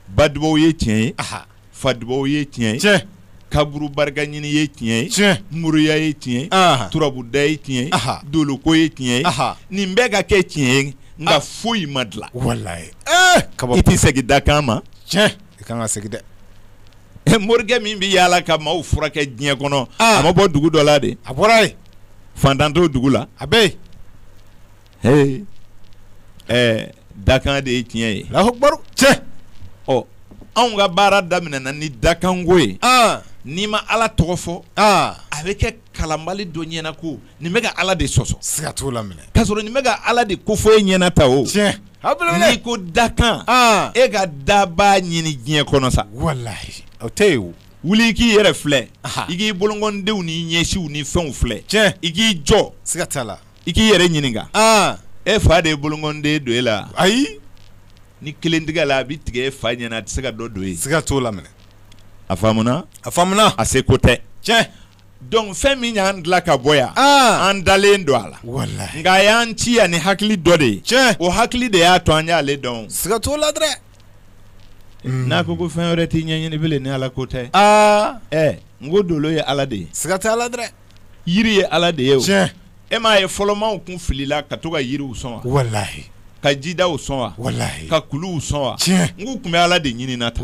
ba dubaw ye tiɲɛ ye aha fa dubaw ye tiɲɛ ye tiɲɛ kaburu barika ɲini ye tiɲɛ ye tiɲɛ moriya ye tiɲɛ ye aha turabuda ye tiɲɛ ye Aha. doloko ye tiɲɛ ye aha nin bɛɛ ka kɛ tiɲɛ ye nka Ah. foyi ma dilan walahi ee kaba i tɛ segin dakan ma tiɲɛ i kan ka segin dɛ morikɛ min bɛ yaala ka maaw furakɛ diɲɛ kɔnɔ a ma bɔ dugu dɔ la de a bɔra yen faantan t'o dugu la a bɛ yen ɛɛ dakan de ye tiɲɛ ye lahubaru tiɲɛ ɔ anw ka baara daminɛna ni dakanko ye n'i ma ala tɔgɔ fɔ a bɛ kɛ kalanbali dɔ ɲɛna ko nin bɛ ka ala de sɔsɔ siga t'o la minɛ k'a sɔrɔ nin bɛ ka ala de ko fɔ e ɲɛna ta o tiɲɛ n'i ko dakan ah. e ka dabaa ɲini diɲɛ kɔnɔ sa walahi o tɛ yen o wuli i k'i yɛrɛ filɛ i k'i bolokɔndenw ni ɲɛsiw ni fɛnw filɛ tiɲɛ i k'i jɔ siga t'a la i k'i yɛrɛ ɲininka ah. e fa de ye bolokɔnden don e la ayi ni kelen tigɛla a bɛ tigɛ e fa ɲɛna a tɛ se ka dɔ don e siga t'o la minɛ a faamuna a faamuna a se ko tɛ tiɲɛ Donc fɛn min y'an dilan ka bɔ yan an dalen don a la nka a y'an ci yan ni hakili dɔ de ye tiɲɛ o hakili de y'a to an y'ale dɔn siga t'a la dɛ n'a ko ko fɛn wɛrɛ tɛ ɲɛɲini bilen ni ala ko tɛ aa ɛ n ko dolo ye ala de ye siga t'a la dɛ yiri ye ala de ye o cɛ E m'a ye fɔlɔmaw tun filila ka to ka yiriw sɔn wa ka jidaw sɔn wa ka kuluw sɔn wa nk'u tun bɛ ala de ɲini na ta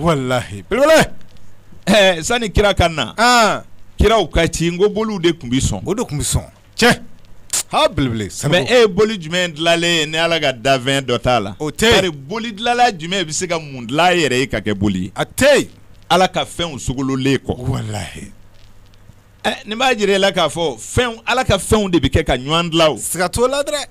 sani kira ka na kiraw ka ci n ko boliw de tun bɛ sɔn o de tun bɛ sɔn tiɲɛ ha belebele mais e ye boli jumɛn dilalen ye ni ala ka dafɛn dɔ t'a la o tɛ bari boli dilanla jumɛn bɛ se ka mun dilan a yɛrɛ ye ka kɛ boli ye a tɛ ala ka fɛnw sogolonlen kɔ Nin b'a jira e la k'a fɔ fɛn ala ka fɛnw de bɛ kɛ ka ɲɔgɔn dilan o siga t'o la dɛ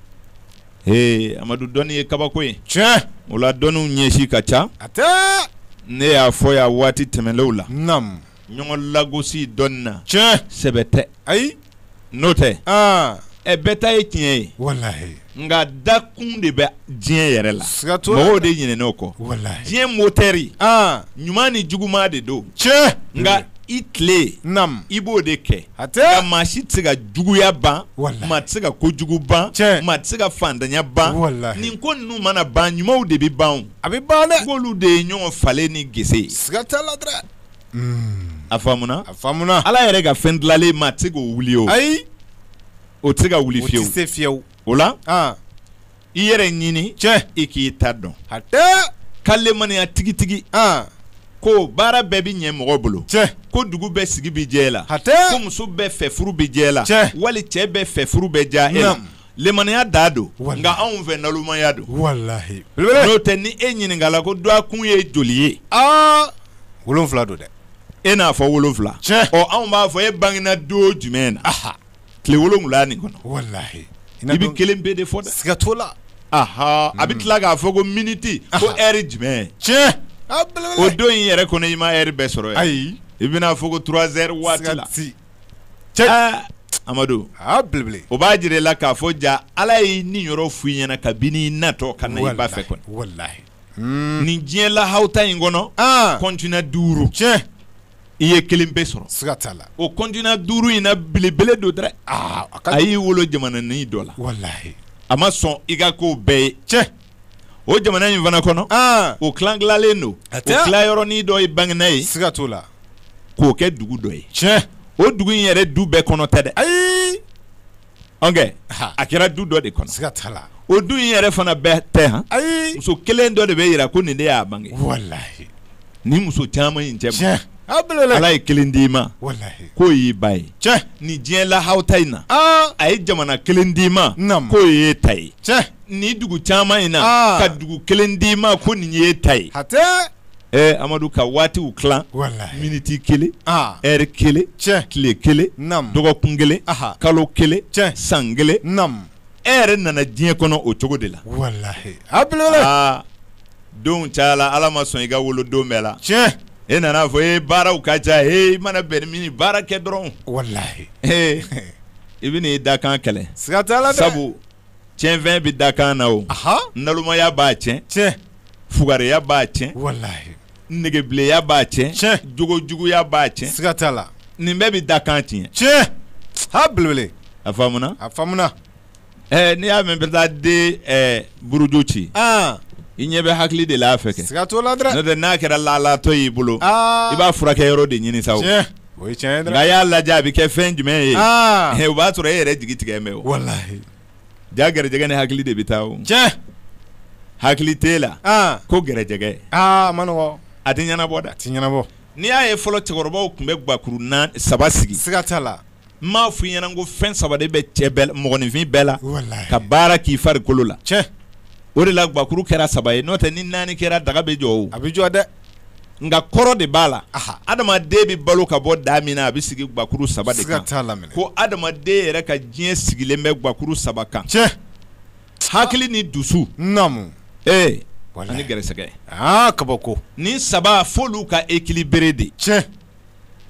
ee amadu dɔnni ye kabako ye tiɲɛ o la dɔnniw ɲɛsin ka ca hatɛ ne y'a fɔ yan waati tɛmɛnlenw la naamu ɲɔgɔn lagosi dɔnni na tiɲɛ sɛbɛ tɛ ayi n'o tɛ aa ɛ bɛɛ ta ye tiɲɛ ye walahi nka dakun de bɛ diɲɛ yɛrɛ la siga t'o la mɔgɔw de ɲinɛna o kɔ walahi diɲɛ motɛri an ɲuman ni juguman de don tiɲɛ nka i tile nam i b'o de kɛ hatɛ nka maa si tɛ se ka juguya ban Walahi. maa tɛ se ka kojugu ban Tiɲɛ. maa tɛ se ka fantanya ban Walahi. nin ko ninnu mana ban ɲumanw de bɛ ban o. a bɛ ban dɛ k'olu de ye ɲɔgɔn falen ni gese ye siga t'a la dɛ a faamuna a faamuna ala yɛrɛ ka fɛn dilalen maa tɛ se k'o wuli o ayi o tɛ se ka wuli fiyewu, o tɛ se fiyewu, o la, an, i yɛrɛ ɲini, tiɲɛ, i k'i ta dɔn, hatɛ, ka lemaniya tigitigi, an, ko baara bɛɛ bɛ ɲɛ mɔgɔ bolo, tiɲɛ, ko dugu bɛɛ sigi bɛ diya i la, hatɛ, ko muso bɛɛ fɛ furu bɛ diya i la, tiɲɛ, wali cɛ bɛɛ fɛ furu bɛ diya e la, naamu, lemaniya da don, walahi, nka anw fɛ nalomaya don, walahi, belebele, n'o tɛ ni e ɲininka la ko dwakun ye joli ye, aa, wolonwula don dɛ, e n'a fɔ wolonwula, tiɲɛ, ɔ anw b'a fɔ e bangena don jumɛn na, aha tile wolonwula nin kɔnɔ walahi i bɛ kelen pe de fɔ dɛ siga t'o la aha a bɛ tila k'a fɔ ko miniti ko ɛri jumɛn tiɲɛ o don in yɛrɛ kɔnɔ i ma ɛri bɛɛ sɔrɔ ayi i bɛna fɔ ko turazɛri waati la tiɲɛ amadu belebele o b'a jira e la k'a fɔ ja ala ye niyɔrɔ f'i ɲɛna kabini i natɔ ka na i ba fɛ kɔnɔ walahi Hmm. Nin diɲɛ lahawuta in kɔnɔ, an, continent 5, tiɲɛ, i ye kelen pe sɔrɔ, siga t'a la, o continent 5 in na belebele don dɛrɛ, aa, a y'i wolo jamananin dɔ la, walahi, a ma sɔn i ka k'o bɛɛ ye, tiɲɛ, o jamana in fana kɔnɔ, an, o tila tilalen don, o tilayɔrɔnin dɔ ye Baginda ye, siga t'o la, k'o kɛ dugu dɔ ye, tiɲɛ, o dugu in yɛrɛ du bɛɛ kɔnɔ tɛ dɛ, ayi. a kɛra du dɔ de kɔnɔ siga t'a la o du in yɛrɛ fana bɛɛ tɛ han ayi muso kelen dɔ de bɛ yira ko nin de y'a bange ni muso caman in cɛ ala ye kelen d'i ma k'o y'i ba ye ni diɲɛ lahawuta in na a ye jamana kelen d'i ma k'o y'e ta ye ni dugu caman in na ka dugu kelen d'i ma ko nin y'e ta ye ɛ amadu ka waatiw tila miniti kelen ɛri kelen tile kelen dɔgɔkun kelen kalo kelen san kelen e yɛrɛ nana diɲɛ kɔnɔ o cogo de la don caya la ala ma sɔn i ka wolo don bɛɛ la e nana fɔ e baaraw ka ca e mana bɛn min baara kɛ dɔrɔn i bɛn'i dakan kɛlɛ sabu tiɲɛfɛn bɛ dakan na o nalomaya b'a tiɲɛ tiɲɛ fugariya b'a tiɲɛ negebileya b'a tiɲɛ tiɲɛ jogojuguya b'a tiɲɛ siga t'a la nin bɛɛ bɛ dakan tiɲɛ tiɲɛ ha belebele a faamuna a faamuna ɛɛ n'i y'a mɛn bɛ taa den buruju ci i ɲɛ bɛ hakili de la fɛ kɛ siga t'o la dɛ n'a kɛra laalatɔ y'i bolo i b'a furakɛ yɔrɔ de ɲini sa O ye tiɲɛ nka y'a lajɛ a bɛ kɛ fɛn jumɛn ye o b'a sɔrɔ e yɛrɛ jigi tigɛ mɛn o ja gɛrɛjɛgɛ ni hakili de bɛ taa o tiɲɛ hakili t'e la ko gɛrɛjɛgɛ a tɛ ɲɛnabɔ dɛ a tɛ ɲɛnabɔ n'i y'a ye fɔlɔ cɛkɔrɔbaw tun bɛ gakuru saba sigi siga t'a la n m'a f'i ɲɛna ko fɛn saba de bɛ cɛ bɛɛ mɔgɔninfin bɛɛ la ka baara k'i farikolo la tiɲɛ o de la gakuru kɛra saba ye n'o tɛ ni naani kɛra daga bɛ jɔ a bɛ jɔ dɛ nka kɔrɔ de b'a la adamaden bɛ balo ka bɔ da min na a bɛ sigi gakuru saba de kan ko adamaden yɛrɛ ka diɲɛ sigilen bɛ gakuru saba kan tiɲɛ hakili ni dusu ee ni gɛrɛsɛgɛ kabako nin saba f'olu ka équilibré de tiɲɛ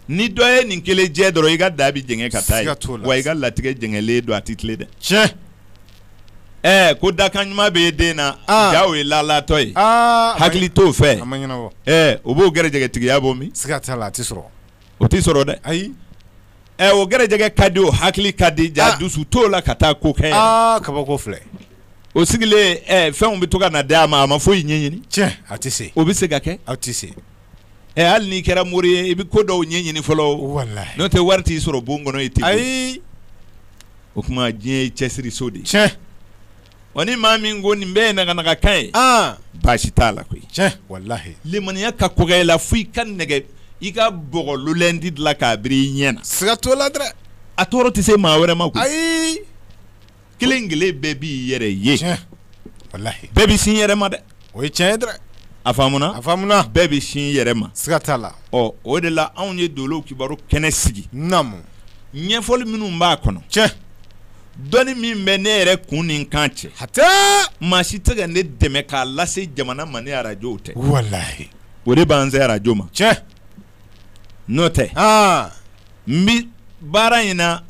ni dɔ ye nin kelen jɛ dɔrɔn i ka daa bɛ jɛngɛ ka taa ye, siga t'o la. wa i ka latigɛ jɛngɛlen don a tɛ tilen dɛ tiɲɛ ɛɛ ko dakan ɲuman bɛ e den na Ah. ja o ye laalatɔ ye aa a ma- hakili t'o fɛ a ma ɲɛnabɔ ɛɛ o b'o gɛrɛjɛgɛtigiya bɔ min siga t'a la a tɛ sɔrɔ o tɛ sɔrɔ dɛ ayi ɛɛ o gɛrɛjɛgɛ ka di o hakili ka di ja Ah. dusu t'o la ka taa ko kɛ aa kabako filɛ o sigilen ɛɛ fɛnw bɛ to ka na d'a ma a ma foyi ɲɛɲini tiɲɛ a tɛ se o bɛ se ka kɛ aw tɛ se Ɛ hali n'i kɛra mori ye i bɛ ko dɔw ɲɛɲini fɔlɔ n'o tɛ wari t'i sɔrɔ bon kɔnɔ ye ten o tuma diɲɛ ye cɛsiriso de ye tiɲɛ wa ni maa min ko nin bɛɛ ye naganaga kan ye baasi t'a la koyi walahi limaniya ka kɔgɔ i la fo i ka nɛgɛ i ka bɔgɔ lulɛnti dilan k'a biri i ɲɛ na siga t'o la a tɔɔrɔ tɛ se maa wɛrɛ ma ayi kelen kelen bɛɛ b'i yɛrɛ ye bɛɛ bɛ sin yɛrɛ ma dɛ o ye tiɲɛ dɛ a faamuna a faamuna bɛɛ bɛ sin yɛrɛ ma siga t'a la ɔ o de la anw ye dolow kibaru kɛnɛ sigi naamu ɲɛfɔli minnu b'a kɔnɔ tiɲɛ dɔnni min bɛ ne yɛrɛ kun ni kan cɛ hatɛ maa si tɛ ka ne dɛmɛ k'a lase jamana ma ni arajow tɛ walahi o de b'an se arajo ma tiɲɛ n'o tɛ aa n bɛ baara in na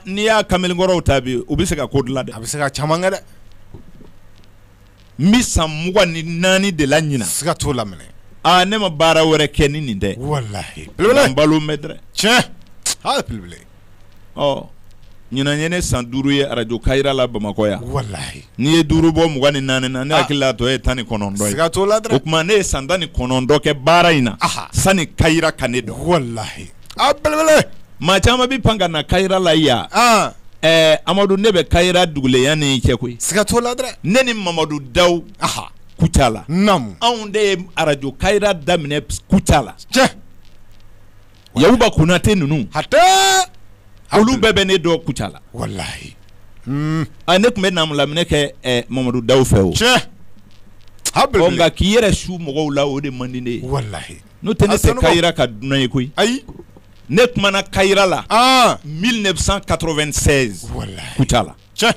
n'i y'a kamalenkɔrɔw ta bi u bɛ se ka ko dilan dɛ a bɛ se ka caman kɛ dɛ n bɛ san mugan ni naani de la ɲinan siga t'o la minɛ aaa ne ma baara wɛrɛ kɛ ni nin tɛ walayi n balo bɛ dɛ tiɲɛ hali belebele ɔ ɲinan ye ne san duuru ye arajo kayira la bamakɔ yan walayi n'i ye duuru bɔ mugan ni naani na ne hakili la a tɔ ye tan ni kɔnɔntɔn ye siga t'o la o tuma ne ye san tan ni kɔnɔntɔn kɛ baara in na sanni kayira ka ne dɔn wala A belebele maa caman bɛ pan ka na kayira la yan amadu ne bɛ kayira duguleya ni cɛ koyi siga t'o la dɛ ne ni mamadu dawu aha kucala anw de ye arajo kayira daminɛ kucala tiɲɛ yakuba konate ninnu hatɛ olu bɛɛ bɛ ne dɔn kucala walayi ne tun bɛ naamulaminɛ kɛ mamadu dawu fɛ o tiɲɛ nka k'i yɛrɛ su mɔgɔw la o de man di n ye walayi N'o tɛ ne tɛ kayira ka dunan ye koyi, ayi, ne kuma na kayira la, an, 1996 walahi, Kucala, o tiɲɛ,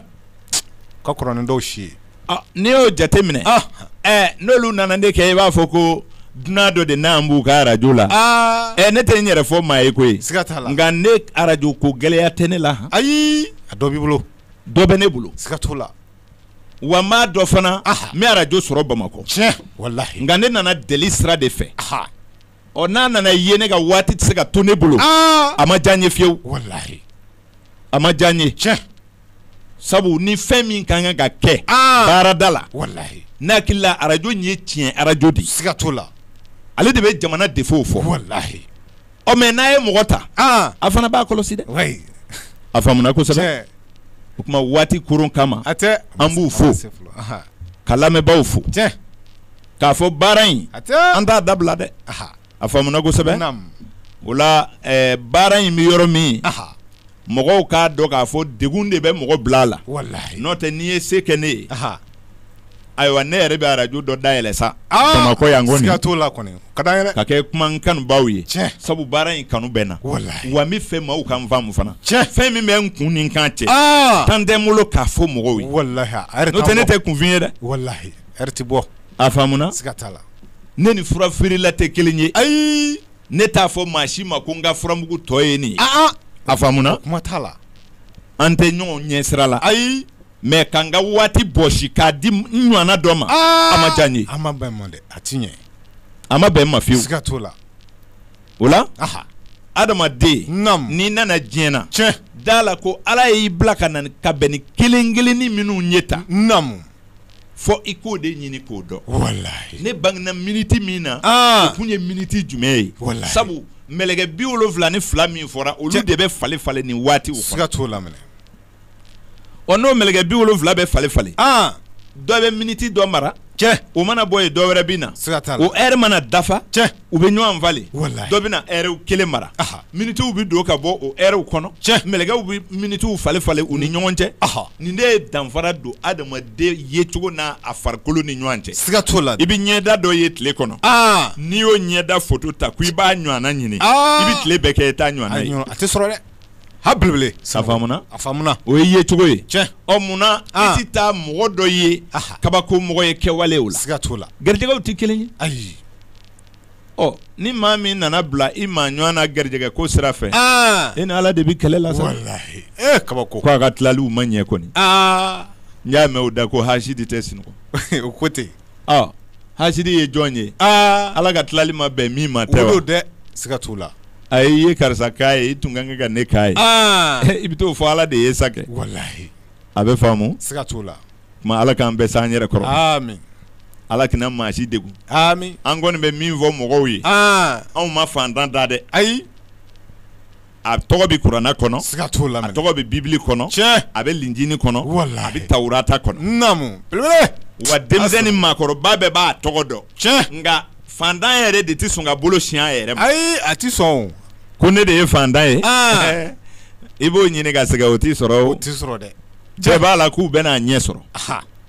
o ka kɔrɔ ni dɔw si ye, ɔ n'i y'o jate minɛ, an, ɛ n'olu nana ne kɛ i b'a fɔ ko dunan dɔ de nalen b'u ka arajo la, aa, ɛ ne tɛ n yɛrɛ fɔ maa ye koyi, siga t'a la, nka ne arajo ko gɛlɛya tɛ ne la, ayi, a dɔ b'i bolo, dɔ bɛ ne bolo, siga t'o la wa n b'a dɔn fana n bɛ arajo sɔrɔ bamakɔ nka ne nana deli sira de fɛ ɔ n'a nana ye ne ka waati tɛ se ka to ne bolo a ma diya n ye fiyewu a ma diya n ye tiɲɛ sabu ni fɛn min ka kan ka kɛ baarada la ne hakili la arajo in ye tiɲɛ arajo de ye siga t'o la ale de bɛ jamana défaut fɔ ɔ mais n'a ye mɔgɔ ta a fana b'a kɔlɔsi dɛ a faamuna kosɛbɛ o tuma waati koron kama a tɛ an b'u fo ka lamɛnbaaw fo k'a fɔ baara in an t'a dabila dɛ a faamuna kosɛbɛ o la baara in bɛ yɔrɔ min mɔgɔw k'a dɔn k'a fɔ degun de bɛ mɔgɔ bila a la n'o tɛ n'i ye se kɛ ne ye ayiwa ne yɛrɛ bɛ arajo dɔ dayɛlɛ sa bamakɔ yan ka kɛ kuma n kanubaw ye sabu baara in kanu bɛ n na wa n b'a fɛ maaw ka n faamu fana fɛn min bɛ n kun ni n kan cɛ temps tɛ n bolo k'a fɔ mɔgɔw ye n'o tɛ ne tɛ kunfin ye dɛ bɔ a faamuna ne ni fura feerela tɛ kelen ye ayi ne t'a fɔ maa si ma ko n ka furamugu tɔ ye nin ye, an an, a faamuna, kuma t'a la, an tɛ ɲɔgɔn ɲɛ sira la, ayi, mais ka n ka waati bɔsi k'a di n ɲɔgɔnna dɔ ma, aa, a ma diya n ye, a ma bɛn n ma dɛ, a tɛ ɲɛ, a ma bɛn n ma fiyewu, siga t'o la, o la, aha, adamaden, naamu, n'i nana diɲɛ na, tiɲɛ, d'a la ko Ala y'i bila ka na ka bɛn ni kelen kelenni minnu ye tan, naamu fɔ i k'o de ɲini k'o dɔn walahi ne bangena minute min na aa o tun ye minute jumɛn ye walahi sabu mɛlɛkɛ 72 min fɔra olu de bɛ falen-falen nin waati o kɔnɔ siga t'o la mɛnɛ ɔ n'o mɛlɛkɛ 70 bɛ falen-falen aan dɔ bɛ minute dɔ mara cɛ o mana bɔ yen dɔ wɛrɛ bɛ na siga t'a la o heure mana dafa cɛ u bɛ ɲɔgɔn falen dɔ bɛ na heure kelen mara minituw bɛ don ka bɔ o heure kɔnɔ cɛ mɛlɛkɛw bɛ minituw falen falen u ni ɲɔgɔn cɛ nin de ye danfara don adamaden yecogo n'a a farikolo ni ɲɔgɔn cɛ siga t'o la i bɛ ɲɛda dɔ ye tile kɔnɔ n'i y'o ɲɛda foto ta ko i b'a ɲɔgɔnna ɲini i bɛ tile bɛɛ kɛ i t'a ɲɔgɔnna ye a tɛ sɔrɔ dɛ ha belebele a faamuna a faamuna o ye yecogo ye cɛ ɔ munna i tɛ taa mɔgɔ dɔ ye kabako mɔgɔ ye kɛwale o la siga t'o la garijɛgɛw tɛ kelen ye ayi ɔ ni maa min nana bila i maa ɲɔgɔn na garijɛgɛ ko sira fɛ aa e ni ala de bɛ kɛlɛ la sa walahi ee kabako k'a ka tilaliw ma ɲɛ kɔni aa n y'a mɛn o da ko hasidi tɛ sinɔgɔ o ko ten ɔ hasidi ye jɔn ye aa ala ka tilali ma bɛn min ma tɛ o wa don dɛ siga t'o la ayi i ye karisa k'a ye i tun ka kan ka ne k'a ye aa i bɛ t'o fɔ ala de ye sa kɛ walahi a bɛ faamu siga t'o la tuma Ala k'an bɛɛ s'an yɛrɛ kɔrɔ, aami, Ala kana maa si degun, aami, an kɔni bɛ min fɔ mɔgɔw ye, an, anw ma faantan da dɛ, ayi, a tɔgɔ bɛ kurana kɔnɔ, siga t'o la, a tɔgɔ bɛ bibili kɔnɔ, tiɲɛ, a bɛ linjini kɔnɔ, walahi, a bɛ tawurata kɔnɔ, naamu, belebele, wa denmisɛn ni maakɔrɔba bɛɛ b'a tɔgɔ dɔn, tiɲɛ, nka faantan yɛrɛ de tɛ sɔn ka bolo sin a yɛrɛ ma, ayi, a tɛ sɔn o, ko ne de ye faantan ye, an, i b'o ɲini ka sɛgɛn o tɛ sɔrɔ o, o tɛ sɔrɔ dɛ cɛ b'a la k'u bɛna a ɲɛ sɔrɔ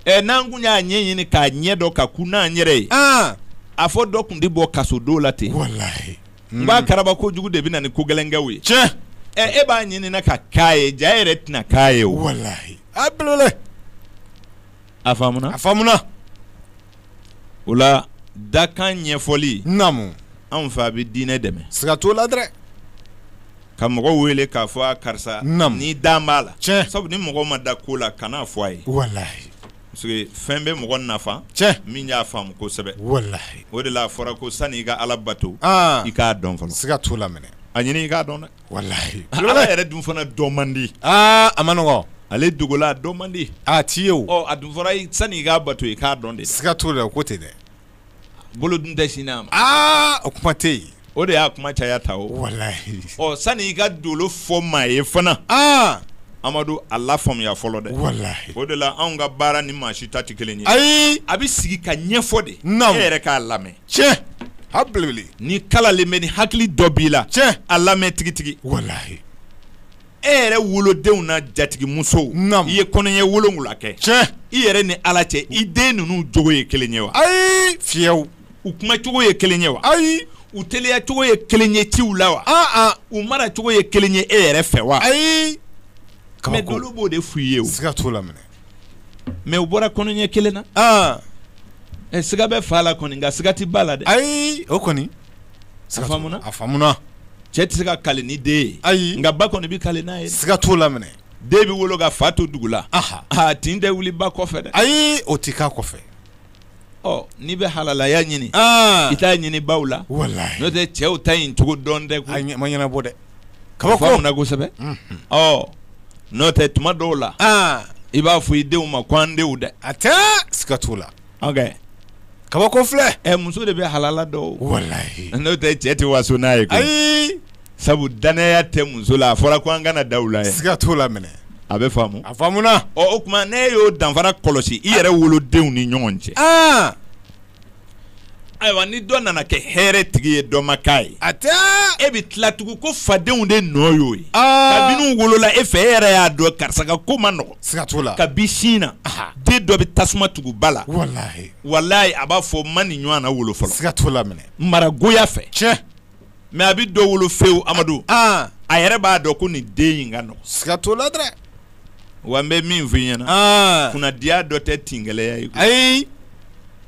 ɛ n'an kun y'a ɲɛ ɲini k'a ɲɛ dɔn ka kun n'an yɛrɛ ye a fɔ dɔ kun tɛ bɔ kaso don la ten walahi n b'a karaba ko jugu de bɛ na ni ko gɛlɛnkɛw ye cɛ e b'a ɲini n'a ka k'a ye jaa yɛrɛ tɛna k'a ye o walahi a belebele a faamuna a faamuna o la dakan ɲɛfɔli naamu anw fɛ a bɛ diinɛ dɛmɛ siga t'o la dɛ ka mɔgɔ wele k'a fɔ a karisa naamu ni dan b'a la tiɲɛ sabu ni mɔgɔ ma da ko la kan'a fɔ a ye walahi parce que fɛn bɛ mɔgɔ nafa tiɲɛ min y'a faamu kosɛbɛ walahi o de la a fɔra ko sani i ka Ala bato aa i k'a dɔn fɔlɔ siga t'o la mɛnɛ a ɲini i k'a dɔn dɛ ala yɛrɛ dun fana dɔn man di a man nɔgɔ ale dogola a dɔn man di a ti ye o a dun fɔra sani i k'a bato i k'a dɔn de siga t'o la o ko ten dɛ bolo dun tɛ sin a ma o kuma tɛ yen o de y'a kuma caya ta o walahi sani i ka dolo fɔ maa ye fana amadu a lafaamuya fɔlɔ dɛ o de la anw ka baara ni maa si ta tɛ kelen ye ayi a bɛ sigi ka ɲɛfɔ de n' yɛrɛ k'a lamɛn tiɲɛ a belebele ni kalalen bɛ ni hakili dɔ b'i la tiɲɛ a lamɛn tigitigi walahi e yɛrɛ wolodenw na jatigimusow naam i ye kɔnɔɲɛ wolonwula kɛ tiɲɛ i yɛrɛ ni ala cɛ i den ninnu jogo ye kelen ye wa ayi fiyewu u kuma cogo ye kelen ye wa ayi u teliya cogo ye kelen ye ciw la wa an an u mara cogo ye kelen ye e yɛrɛ fɛ wa ayi mais kabako dolu b'o de f'u ye o siga t'o la minɛ mais u bɔra kɔnɔɲɛ kelen na ah. eh, siga bɛ fa la kɔni nka siga tɛ ba la dɛ ayi o kɔni a faamuna a faamuna cɛ tɛ se ka kale ni den ye ayi nka ba kɔni bɛ kale n'a ye siga t'o la minɛ den bɛ wolo ka fa to dugu la aha a tin tɛ wuli ba kɔfɛ dɛ ayi o tɛ k'a kɔfɛ ɔ n'i bɛ halalaya ɲini i t'a ɲini baw la walahi n'o tɛ cɛw ta in cogo dɔn dɛ ko ma ɲɛnabɔ dɛ kabako faamuna kosɛbɛ ɔ n'o tɛ tuma dɔw la i b'a fɔ i denw ma ko an denw dɛ a tɛ siga t'o la kabako filɛ ɛ muso de bɛ halala dɔn walahi n'o tɛ cɛ tɛ waso n'a ye ayi sabu dannaya tɛ muso la a fɔra ko an kana da u la siga t'o la minɛ a bɛ faamu a faamuna o tuma ne y'o danfara kɔlɔsi i yɛrɛ wolodenw ni ɲɔgɔn cɛ aa ayiwa ni dɔ nana kɛ hɛrɛ tigi ye dɔ ma k'a ye a tɛ e bɛ tila tugun ko fadenw de nɔ y'o ye kabini u wolola e fɛ e yɛrɛ y'a dɔn karisa ka ko ma nɔgɔ siga t'o la kabi sin na den dɔ bɛ tasuma tugu ba la walahi a b'a fɔ n ma nin ɲɔgɔnna wolo fɔlɔ siga t'o la maragoya fɛ tiɲɛ mais a bɛ dɔ wolo fewu amadu a yɛrɛ b'a dɔn ko nin den in ka nɔgɔ siga t'o la dɛ wa n bɛ min fɔ i ɲɛna kunnadiya dɔ tɛ tin gɛlɛya ye ayi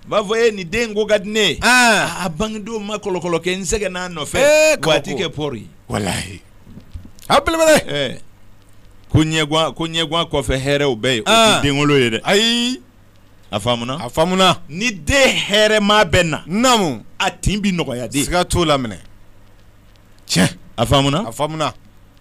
b'a fɔ e nin den ko ka di ne ye a bangedon ma kɔlɔkɔlɔ kɛ n sɛgɛnn'a nɔfɛ waati kɛ pɔri walahi a belebele ko ɲɛ ko ɲɛgwan kɔfɛ hɛrɛw bɛ yen o tɛ denwolo ye dɛ ayi a faamuna a faamuna ni den hɛrɛma bɛ na naamu a tin bi nɔgɔya dɛ siga t'o la minɛ tiɲɛ a faamuna a faamuna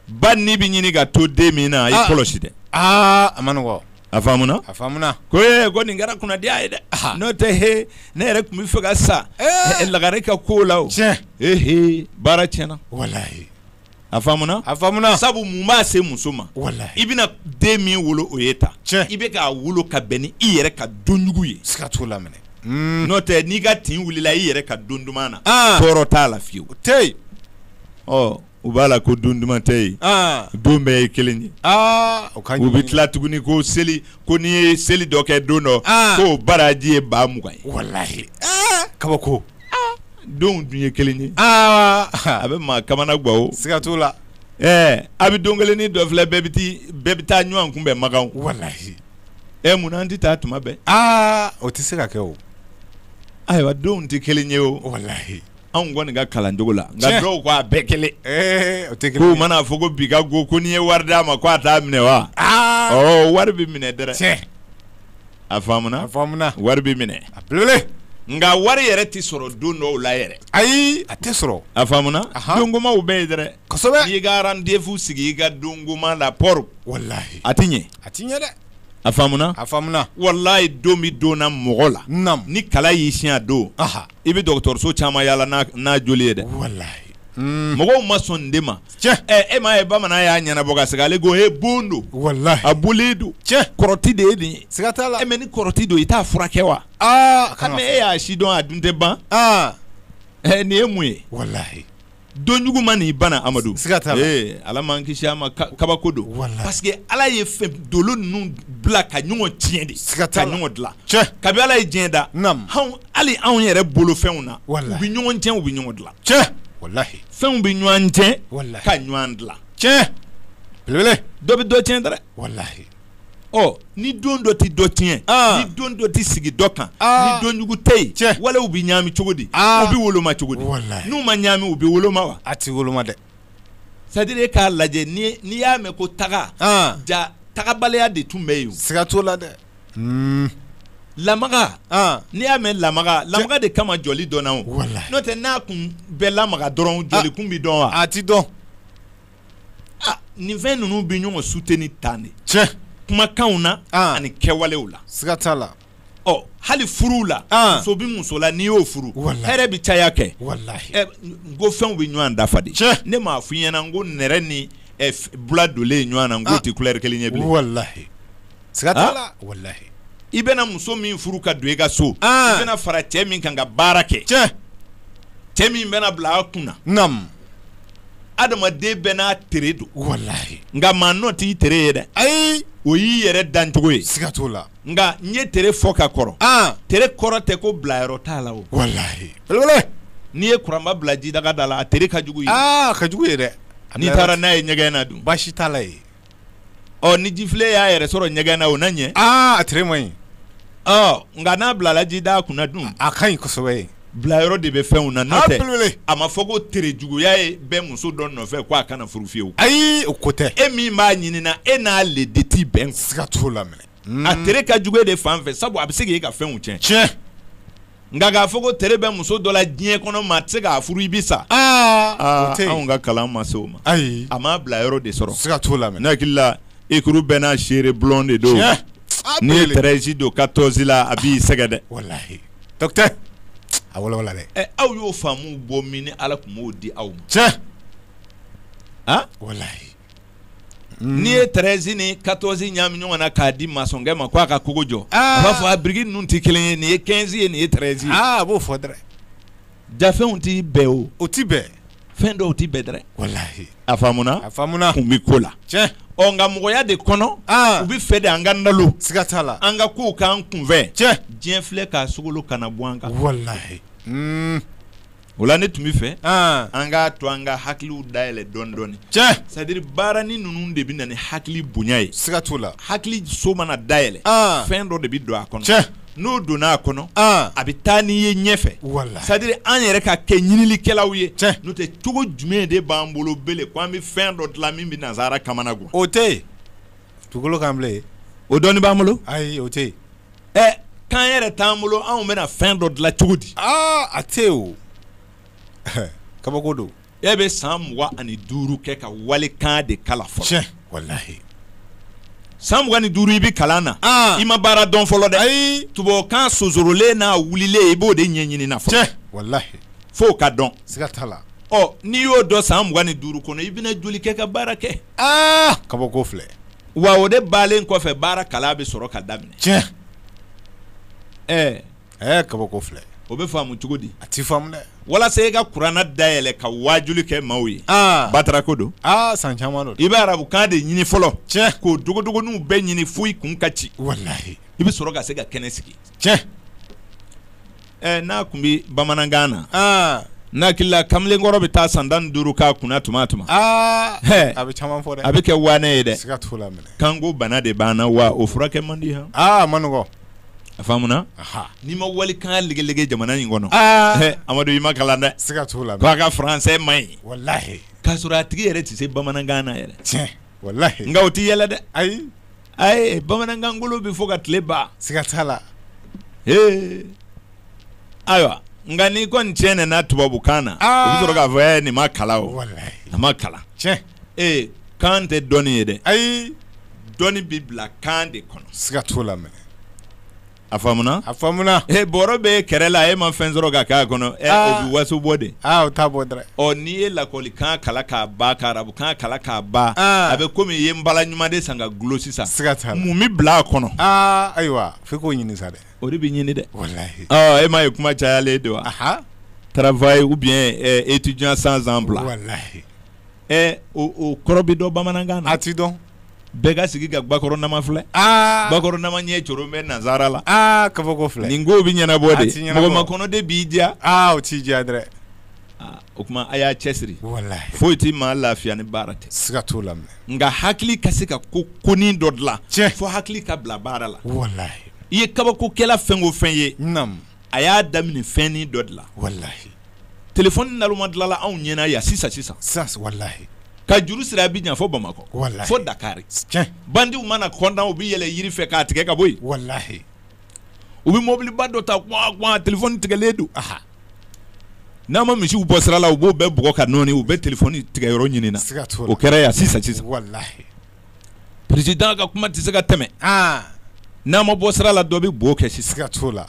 ba nin bi ɲini ka to den min na a y'i ah. kɔlɔsi dɛ aa ah, a ma nɔgɔ a faamuna a faamuna ko ee ko nin kɛra kunnadiya ye dɛ ah. n'o tɛ he ne yɛrɛ tun bɛ fɛ ka sa eh. lagare ka ko la o tiɲɛ ehe baara tiɲɛna walahi a faamuna a faamuna sabu mun b'a se muso ma walahi i bɛna den min wolo o ye ta tiɲɛ i bɛ k'a wolo ka bɛn ni i yɛrɛ ka donjugu ye siga t'o la minɛ hmm. n'o tɛ n'i ka tin wulila i yɛrɛ ka don duman na ah. tɔɔrɔ t'a la fiyewu o tɛ yen ɔ u b'a la ko don duman tɛ yen ah. don bɛɛ ye kelen ye ah. u bɛ tila tuguni ko seli ko n'i ye seli dɔ kɛ don dɔ k'o baraji ye ba mugan ye walahi kabako Donw dun ye kelen ye aa a bɛ maa kamanagan o siga t'o la ɛɛ a bɛ don kelen ni dɔ filɛ bɛɛ bɛɛ bɛ taa ɲɔgɔn kunbɛn Makan walahi ɛ munna an tɛ taa tuma bɛɛ aa o tɛ se ka kɛ o ayiwa donw tɛ kelen ye o walahi anw kɔni ka kalancogo la nka dɔw ko a bɛɛ kelen o tɛ kelen k'u man'a fɔ ko bi ka go ko n'i ye wari d'a ma k' a t'a minɛ wa ɔ wari bɛ minɛ dɛrɛ a faamuna a wari bɛ minɛ a belebele nka wari yɛrɛ tɛ sɔrɔ don dɔw la yɛrɛ ayi a tɛ sɔrɔ a faamuna dongomaw bɛ yen dɛrɛ kosɛbɛ n'i ka rendez-vous sigi i ka dongoma la pɔri walahi a tɛ ɲɛ a tɛ ɲɛ dɛ a faamuna walahi don bɛ donna mɔgɔ la ni kala y'i siɲɛ don i bɛ dɔgɔtɔrɔso caman yaala n'a joli ye dɛ walahi mɔgɔw ma sɔn nin de ma e m'a ye bamanan y'a ɲɛnabɔ ka segin ale ko e bon don a boli don kɔrɔti de ye nin ye siga t'a la e mais ni kɔrɔti don i t'a furakɛ wa mais e y'a si dɔn a dun tɛ ban nin ye mun ye donjugu man'i bana Amadu siga t'a la ee Ala m'an kisi a ma kabako don walahi parce que Ala ye fɛn dolo ninnu bila ka ɲɔgɔn tiɲɛ de siga t'a la ka ɲɔgɔn dilan tiɲɛ kabi Ala ye diɲɛ da naamu anw hali anw yɛrɛ bolofɛnw na walahi u bɛ ɲɔgɔn tiɲɛ u bɛ ɲɔgɔn dilan tiɲɛ walahi fɛnw bɛ ɲɔgɔn tiɲɛ walahi ka ɲɔgɔn dilan tiɲɛ belebele dɔ bɛ dɔ tiɲɛ dɛrɛ walahi ɔ ni don dɔ tɛ dɔ tiɲɛ ni don dɔ tɛ sigi dɔ kan ni donjugu tɛ yen cɛ walew bɛ ɲaami cogo di u bɛ woloma cogo di n'u ma ɲaami u bɛ woloma wa a tɛ woloma dɛ c'est à dire k'a lajɛ n'i y'a mɛn ko taga ja tagabaliya de tun bɛ yen siga t'o la dɛ lamaga n'i y'a mɛn lamaga de kama jɔli dɔnna n'o tɛ n'a kun bɛ lamaga dɔrɔn jɔkun bɛ dɔn wa a tɛ dɔn nin fɛn ninnu bɛ ɲɔgɔn soutenir tan de cɛ kumakanw na ani kɛwalew la siga t'a la ɔ hali furuw la muso bɛ muso la n'i y'o furu hɛrɛ bɛ caya kɛ n ko fɛnw bɛ ɲɔgɔn dafa de cɛ ne m'a f'i ɲɛna n ko nɛrɛ ni bula donlen ɲɔgɔn na ko tɛ couleur kelen ye bilen walahi siga t'a la walahi i bɛna muso min furu ka don i ka so i bɛna fara cɛ min kan ka baara kɛ cɛ cɛ min bɛna bila a kun na adamaden bɛɛ n'a tere don walahi nka maa nɔ t'i tere ye dɛ ayi o y'i yɛrɛ dancogo ye siga t'o la nka n ye tere fɔ ka kɔrɔ an tere kɔrɔ tɛ ko bilayɔrɔ t'a la o walahi belebele n'i ye kuranba bila jidaga da la a tere ka jugu ye aa ka jugu ye dɛ n'i taara n'a ye ɲɛgɛn na dun baasi t'a la ye ɔ ni jifilen y'a yɛrɛ sɔrɔ ɲɛgɛn na o na ɲɛ aa a tere man ɲi ɔ nka n'a bilala jidaa kunna dun a ka ɲi kosɛbɛ ye bilayɔrɔ de bɛ fɛnw na n'o tɛ belebele. a ma fɔ ko tere juguya ye bɛ muso dɔ nɔfɛ ko a kana furu fiyewu ayi o ko tɛ e min b'a ɲinina e n'ale de tɛ bɛn siga t'o la minɛ mm. a tere ka jugu e de fan fɛ sabu a bɛ se k'e ka fɛnw tiɲɛ tiɲɛ nka k'a fɔ ko tere bɛ muso dɔ la diɲɛ kɔnɔ maa tɛ se k'a furu i bi sa ah. Ah, anw ka kalan ma se o ma ayi a m'a bila yɔrɔ de sɔrɔ siga t'o la ne hakili la ekuru bɛɛ n'a seere bulon de don n'i ye treize don quatorze la a b'i sɛgɛ dɛ walahi dɔkitɛri a walawala dɛ ɛ aw y'o faamu bɔ min ni ala tun m'o di aw ma tiɲɛ ah walahi n'i ye treize ni quatorze ɲaami ɲɔgɔn na k'a di masɔnkɛ ma k'a ka kogo jɔ a b'a fɔ a biriki ninnu tɛ kelen ye nin ye quinze ye nin ye treize ye a b'o fɔ dɛ jaa fɛnw tɛ bɛn o o tɛ bɛn fɛn dɔw tɛ bɛn dɛ walahi a faamuna kun bɛ ko la tiɲɛ ɔ nka mɔgɔya de kɔnɔ u bɛ fɛ de an ka nalo siga t'a la an ka kow k'an kunfɛ tiɲɛ diɲɛ filɛ k'a sogolo kana bɔn an kan wala O la ne tun bɛ fɛ an k'a to an ka hakiliw dayɛlɛ dɔɔni dɔɔni tiɲɛ c'est-à-dire baarani ninnu de bɛ na ni hakili bonya ye siga t'o la hakili so mana dayɛlɛ fɛn dɔ de bɛ don a kɔnɔ tiɲɛ n'o donna a kɔnɔ a bɛ taa n'i ye ɲɛfɛ walahi c'est-à-dire an yɛrɛ ka kɛ ɲinilikɛlaw ye tiɲɛ n'o tɛ cogo jumɛn de b'an bolo bele ko an bɛ fɛn dɔ dilan min bɛ nansara kamana gan o tɛ yen dugukolo kan bilen o dɔnni b'an bolo ayi o tɛ yen ɛ kan yɛrɛ t'an bolo anw bɛna fɛn dɔ dilan cogo di aa a tɛ yen o kabako don e bɛ san mugan ani duuru kɛ ka walikan de kalan fɔlɔ tiɲɛ walahi san mugan ni duuru i bɛ kalan na i ma baara dɔn fɔlɔ dɛ ayi tubabukan sonsorolen n'a wulilen i b'o de ɲɛɲini na fɔlɔ tiɲɛ walahi f'o ka dɔn siga t'a la ɔ n'i y'o dɔn san mugan ni duuru kɔnɔ i bɛna joli kɛ ka baara kɛ aa kabako filɛ wa o de bannen kɔfɛ baara kalan bɛ sɔrɔ ka daminɛ tiɲɛ ɛɛ ɛɛ kabako filɛ o bɛ faamu cogo di a ti faamu dɛ walasa e ka kurana dayɛlɛ ka wajuli kɛ maaw ye ah. batara ko don aa ah, san caman don i bɛ arabukan de ɲini fɔlɔ tiɲɛ k'o dogodogoniw bɛɛ ɲini fo i kun ka ci walahi i bɛ sɔrɔ ka se ka kɛnɛ sigi tiɲɛ ɛ n'a tun bɛ bamanankan na aa ne hakili la kamalenkɔrɔ bɛ taa san tan ni duuru k'a kunna tuma tuma aa Hɛ. a bɛ caman fɔ dɛ a bɛ kɛ waane ye dɛ siga t'o la minɛ kanko bana de b'an na wa o furakɛ man di han aa a ma nɔgɔ a faamuna aha n'i ma walikan legelege jamana in kɔnɔ aa Hɛ, amadu i ma kalan dɛ siga t'o la ko a ka faransɛ man ɲi walahi k'a sɔrɔ a tigi yɛrɛ tɛ se bamanankan na yɛrɛ tiɲɛ walahi nka o tɛ yɛlɛ dɛ ayi ayi bamanankan kolon bɛ fɔ ka tile ban siga t'a la ee ayiwa nka n'i kɔni tiɲɛna tubabukan na u bɛ sɔrɔ k'a fɔ nin ma kalan o a ma kalan tiɲɛ ee kan tɛ dɔnni ye dɛ ayi dɔnni bɛ bila kan de kɔnɔ siga t'o la a faamuna a faamuna e bɔrɔ bɛ kɛrɛ la e ma fɛn sɔrɔ ka k'a kɔnɔ ɛ o bɛ waso bɔ de aa o t'a bɔ dɛ ɔ n'i ye lakɔlikan kalan k'a ban ka arabukan kalan k'a ban a bɛ komi i ye n bala ɲuman de san ka gulo sisan siga t'a la mun bɛ bila a kɔnɔ aa ayiwa f'i k'o ɲini sa dɛ o de bɛ ɲini dɛ walahi ɔ e m'a ye kuma cayalen de wa travail ou bien étudiant sans emploi walahi ɛ o o kɔrɔ bɛ dɔn bamanankan na a tɛ dɔn bɛɛ ka sigi ka bakɔrɔ nama filɛ bakɔrɔ nama ɲɛ coro bɛ nazara la kabako filɛ nin ko bɛ ɲɛnabɔ de a tɛ ɲɛnabɔ mɔgɔ makɔnɔ de b'i diya o t'i diya dɛ o kuma a y'a cɛsiri foyi tɛ maa lafiya ni baara tɛ siga t'o la nka hakili ka se ka ko konin dɔ dilan tiɲɛ fo hakili ka bila baara la i ye kabakokɛla fɛn o fɛn ye a y'a daminɛ fɛnnin dɔ de la walahi telefɔni naloma dilanla anw ɲɛna yan sisan sisan sa walahi ka juru siri Abidjan fo bamakɔ walahi fo dakari bandiw mana kɔntan u bɛ yɛlɛ yiri fɛ k'a tigɛ ka bɔ yen walahi u bɛ mɔbiliba dɔ ta kwan kwan telefɔni tigɛlen don a n'a ma misiw bɔ sira la u b'o bɛɛ bugɔ ka nɔɔni u bɛ telefɔni tigɛyɔrɔ ɲini na o kɛra yan sisan sisan wala président ka kuma tɛ se ka tɛmɛ n'a ma bɔ sira la dɔ bɛ bo kɛ sisan siga t'o la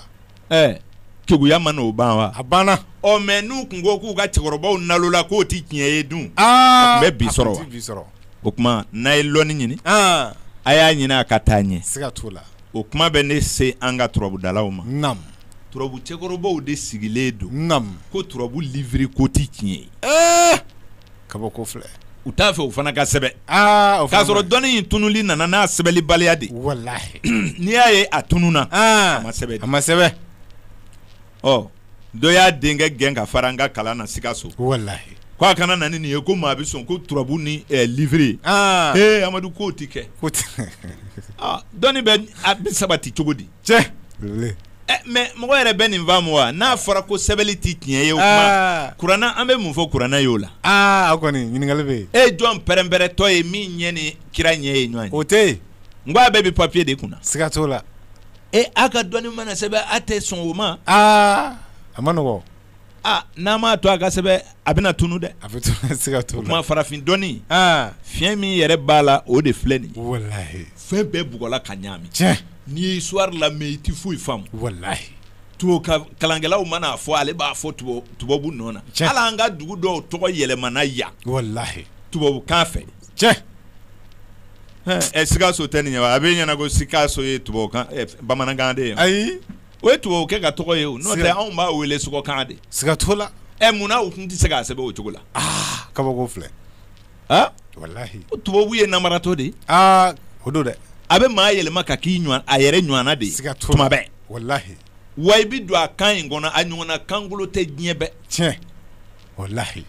keguya ma n'o ban wa a banna ɔ mais n'u tun ko k'u ka cɛkɔrɔbaw nalola k'o tɛ tiɲɛ ye dun bɛ bi sɔrɔ o kuma n'a ye lɔnni ɲini a y'a ɲini a ka taa ɲɛ siga t'o la o kuma bɛ ne se an ka turabudalaw ma na turabu cɛkɔrɔbaw de sigilen don na ko turabu livre ko tɛ tiɲɛ ye kabako filɛ u t'a fɛ u fana ka sɛbɛn o k'a sɔrɔ dɔnni in tununli nana n'a sɛbɛnlibaliya de walahi n'i y'a ye a tununna a ma sɛbɛn a ma sɛbɛn ɔ dɔ y'a denkɛ gɛn ka fara an ka kalan na Sikaso walahi ko a kana na ni nin ye ko maa bɛ sɔn ko turabu ni livre ee amadu k'o tɛ kɛ dɔnni bɛ a bɛ sabati cogo di tiɲɛ mais mɔgɔ yɛrɛ bɛ nin faamu wa n'a fɔra ko sɛbɛnli tɛ tiɲɛ ye o kuranɛ an bɛ mun fɔ kuranɛ y'o la aa a kɔni ɲininkali bɛ yen e jɔn pɛrɛnpɛrɛntɔ ye min ɲɛ ni kira ɲɛ ye ɲɔgɔn ye o tɛ yen n ko a bɛɛ bɛ papiye de kunna na siga t'o la e aw ka dɔnni mana sɛbɛn aw tɛ sɔn o ma aa a man nɔgɔn aa n'a m'a to a ka sɛbɛn a bɛna tunu dɛ, a bɛ tunu a tɛ se ka tunu, o kuma farafin dɔnni, an, fiɲɛ min yɛrɛ b'a la o de filɛ nin ye, walahi, fɛn bɛɛ bugɔla ka ɲagami, tiɲɛ, n'i ye histoire lamɛn i tɛ foyi faamu, walahi, tubabu kalankɛlaw mana a fɔ ale b'a fɔ tubabu nɔ na, tiɲɛ, hali an ka dugu dɔw tɔgɔ yɛlɛmana yan, walahi, tubabukan fɛ, tiɲɛ, ɛ Sikaso tɛ nin ye wa a b'e ɲɛna ko Sikaso ye tubabukan ɛ bamanankan de ye wa, ayi O ye tubabu kɛ ka tɔgɔ ye o n'o tɛ anw b'a wele sɔgɔkan de siga t'o la ɛ munna u tun tɛ se k'a sɛbɛn o cogo la aa kabako filɛ aa walahi o tubabu ye namaratɔ de ye aa o don dɛ a bɛ maa yɛlɛma ka k'i ɲɔgɔn a yɛrɛ ɲɔgɔnna de ye siga t'o la tuma bɛɛ walahi wa i bɛ dɔn a kan in kɔnɔ a ɲɔgɔnna kankolon tɛ diɲɛ bɛɛ tiɲɛ layi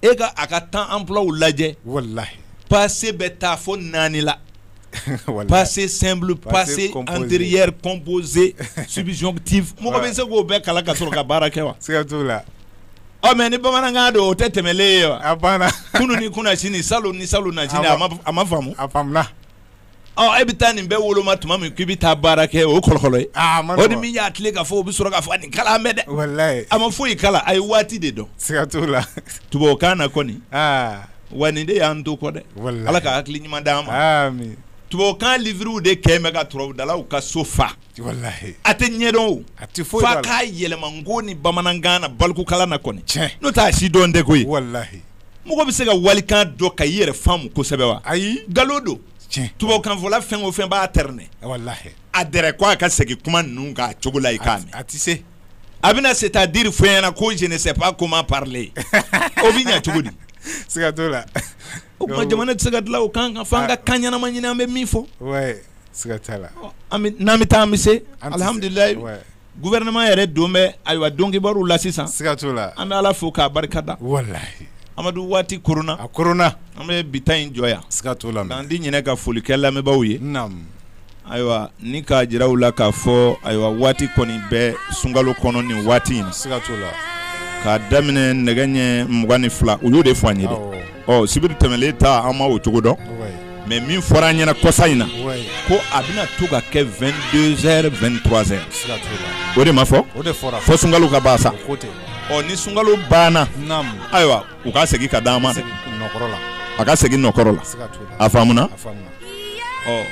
e ka a ka temps emploiw lajɛ walahi passé bɛ taa fo naani la passé simple passé antérieur composé subjonctif mɔgɔ bɛ se k'o bɛɛ kalan ka sɔrɔ ka baara kɛ wa siga t'o la ɔ mais ni bamanankan don o tɛ tɛmɛlen ye wa a banna kunun ni kunasini salon ni salonnasini a ma faamu a E bɛ taa nin bɛɛ woloma tuma min k'i bɛ taa baara kɛ o kɔlɔkɔlɔ ye o ni min y'a tile ka fɔ o bɛ sɔrɔ k'a fɔ nin kalan mɛn dɛ a ma foyi kalan a ye waati de dɔn siga t'o la tubabukan na kɔni wa nin de y'an to kɔ dɛ ala ka hakili ɲuman di an ma tubabukan livrew de kɛ bɛ ka tubabu dalaw ka so fa a tɛ ɲɛdɔn a tɛ fo a k'a yɛlɛma n ko ni bamanankan na balikukalan na kɔni n'o t'a si dɔn tɛ koyi walahi mɔgɔ bɛ se ka walikan dɔn ka i yɛrɛ faamu kosɛbɛ wa ayi nkalon don tubabukanfɔla fɛn o fɛn b'a tɛrɛnɛ a dɛrɛ ko a ka segin kuma ninnu kan a cogo la i k'a mɛn a tɛ se a bɛna c'est-à-dire fɔ i ɲɛna ko je ne sais pas comment parler o bɛ ɲɛ cogo di siga t'o la O tuma jamana tɛ se ka dilan o kan kan fo an ka kan ɲɛnama ɲini an bɛ min fɔ ouais siga t'a la, n'an bɛ taa an bɛ se alihamudulila ouais gouvernement yɛrɛ don bɛ ayiwa dɔnkibaru la sisan, siga t'o la, an bɛ Ala fo k'a barika da, walahi, Amadu waati koronna, a koronna, an bɛ bi ta in jɔ yan, siga t'o la, k'an di ɲinɛ ka foli kɛ lamɛnbaaw ye, naamu Ayiwa ni k'a jira u la k'a fɔ ayiwa waati kɔni bɛ sunkalo kɔnɔ nin waati in na siga t'o la k'a daminɛ nɛgɛ ɲɛ mugan ni fila u y'o de fɔ an ye dɛ ɔ sibiri tɛmɛlen ta an ma o cogo dɔn mais min fɔra an ɲɛna kɔsa in na ko a bɛna to ka kɛ vingt-deux heures vingt-trois heures o de ma fɔ fo sunkalo ka ban sa ɔ ni sunkalo banna ayiwa u ka segin ka d'an ma dɛ a ka segin nɔ kɔrɔ la a faamuna ɔ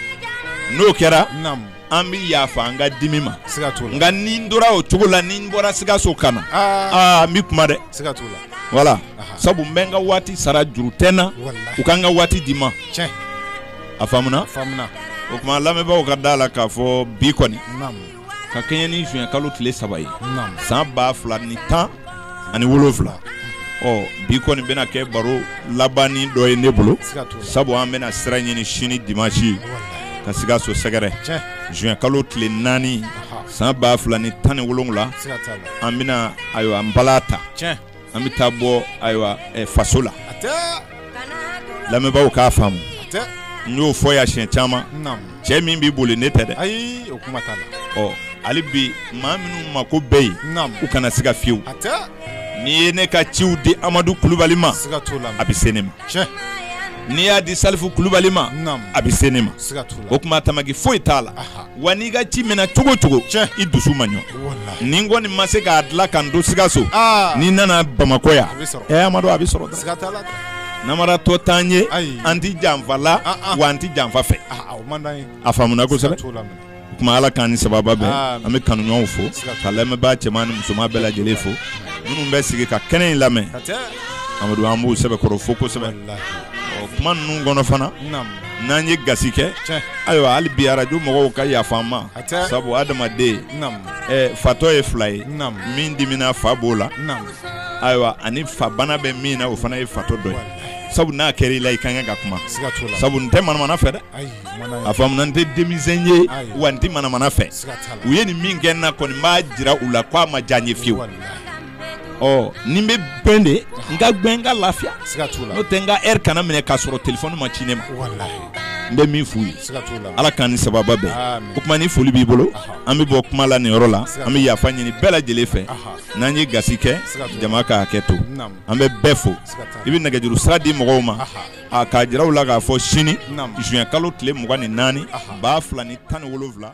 n'o kɛra an bɛ yafa an ka dimi ma nka ni n tora o cogo la ni n bɔra sikaso ka na aa n bɛ kuma dɛ voilà sabu n bɛ n ka waati sara juru tɛ n na u ka n ka waati di n ma a faamuna o tuma lamɛnbaaw ka da a la k'a fɔ bi kɔni ka kɛɲɛ ni juin kalo tile saba ye san ba fila ni tan ani wolonwula ɔ bi kɔni bɛna kɛ baro laban dɔ ye ne bolo sabu an bɛna sira ɲini sini dimansi ka sikaso sɛgɛrɛ juin kalo tile naani san ba fila ni tan ni wolonwula an bɛna ayiwa an bala ta an bɛ taa bɔ ayiwa eh, faso la hatɛ lamɛnbaaw k'a faamu hatɛ n y'o fɔ yan siɲɛ caman naamu cɛ min b'i boli ne tɛ dɛ ayi o kuma t'a la ɔ hali bi maa minnu mako bɛ yen naamu u kana siga fiyewu hatɛ n'i ye ne ka ciw di amadu kulubali ma siga t'o la a bɛ se ne ma tiɲɛ n'i y'a di salifu kulubali ma a bɛ se ne ma o tuma tamaki foyi t'a la wa n'i ka ci minɛ cogo cogo i dusu ma ɲɔ ni n kɔni ma se k'a dilan ka n to sikaso ni n nana bamakɔ yan amadu a bɛ sɔrɔ namaratɔ t'an ye an tɛ janfa la wa an tɛ janfa fɛ a faamuna o tuma ala k'an ni sababa bɛn Amen. an bɛ kanuɲɔgɔnw fo Siga t'a ka lamɛnbaa cɛman ni musoman bɛɛ lajɛlen fo minnu bɛ sigi ka kɛnɛ in lamɛn Hatɛ. amadu an b'u sɛbɛkɔrɔ fo kosɛbɛ Walahi. Ɔ, kuma ninnu kɔnɔ fana Naam. n'an ye gasi kɛ Tiɲɛ. ayiwa hali bi arajo mɔgɔw ka yafa an ma Hatɛ. sabu adamaden Naam. eh, fatɔ ye fila ye Naam. min dimina fa b'o la Naam. ayiwa ani fa bana bɛ min na o fana ye fatɔ dɔ ye sabu n'a kɛra i la i ka kan ka kuma Siga t'o la. sabu n tɛ manamana fɛ dɛ Ayi. a faamuna n tɛ denmisɛn ye wa n tɛ manamana fɛ u ye nin min kɛ n na kɔni n b'a jira u la k'a ma diya n ye fiyewu ɔ ni n bɛ gbɛn de n ka gbɛn n ka lafiya n'o tɛ n ka ɛri kana minɛ k'a sɔrɔ telefɔni ma ci ne ma n bɛ min f'u ye ala k'an ni sababa bɛn o tuma ni foli b'i bolo an bɛ bɔ kuma la nin yɔrɔ la an bɛ yafa ɲini bɛɛ lajɛlen fɛ n'an ye gasi kɛ jama ka hakɛ to an bɛ bɛɛ fo i bɛ nɛgɛjuru sira di mɔgɔw ma a k'a jira u la k'a fɔ sini juin kalo tile mugan ni naani ba fila ni tan ni wolonwula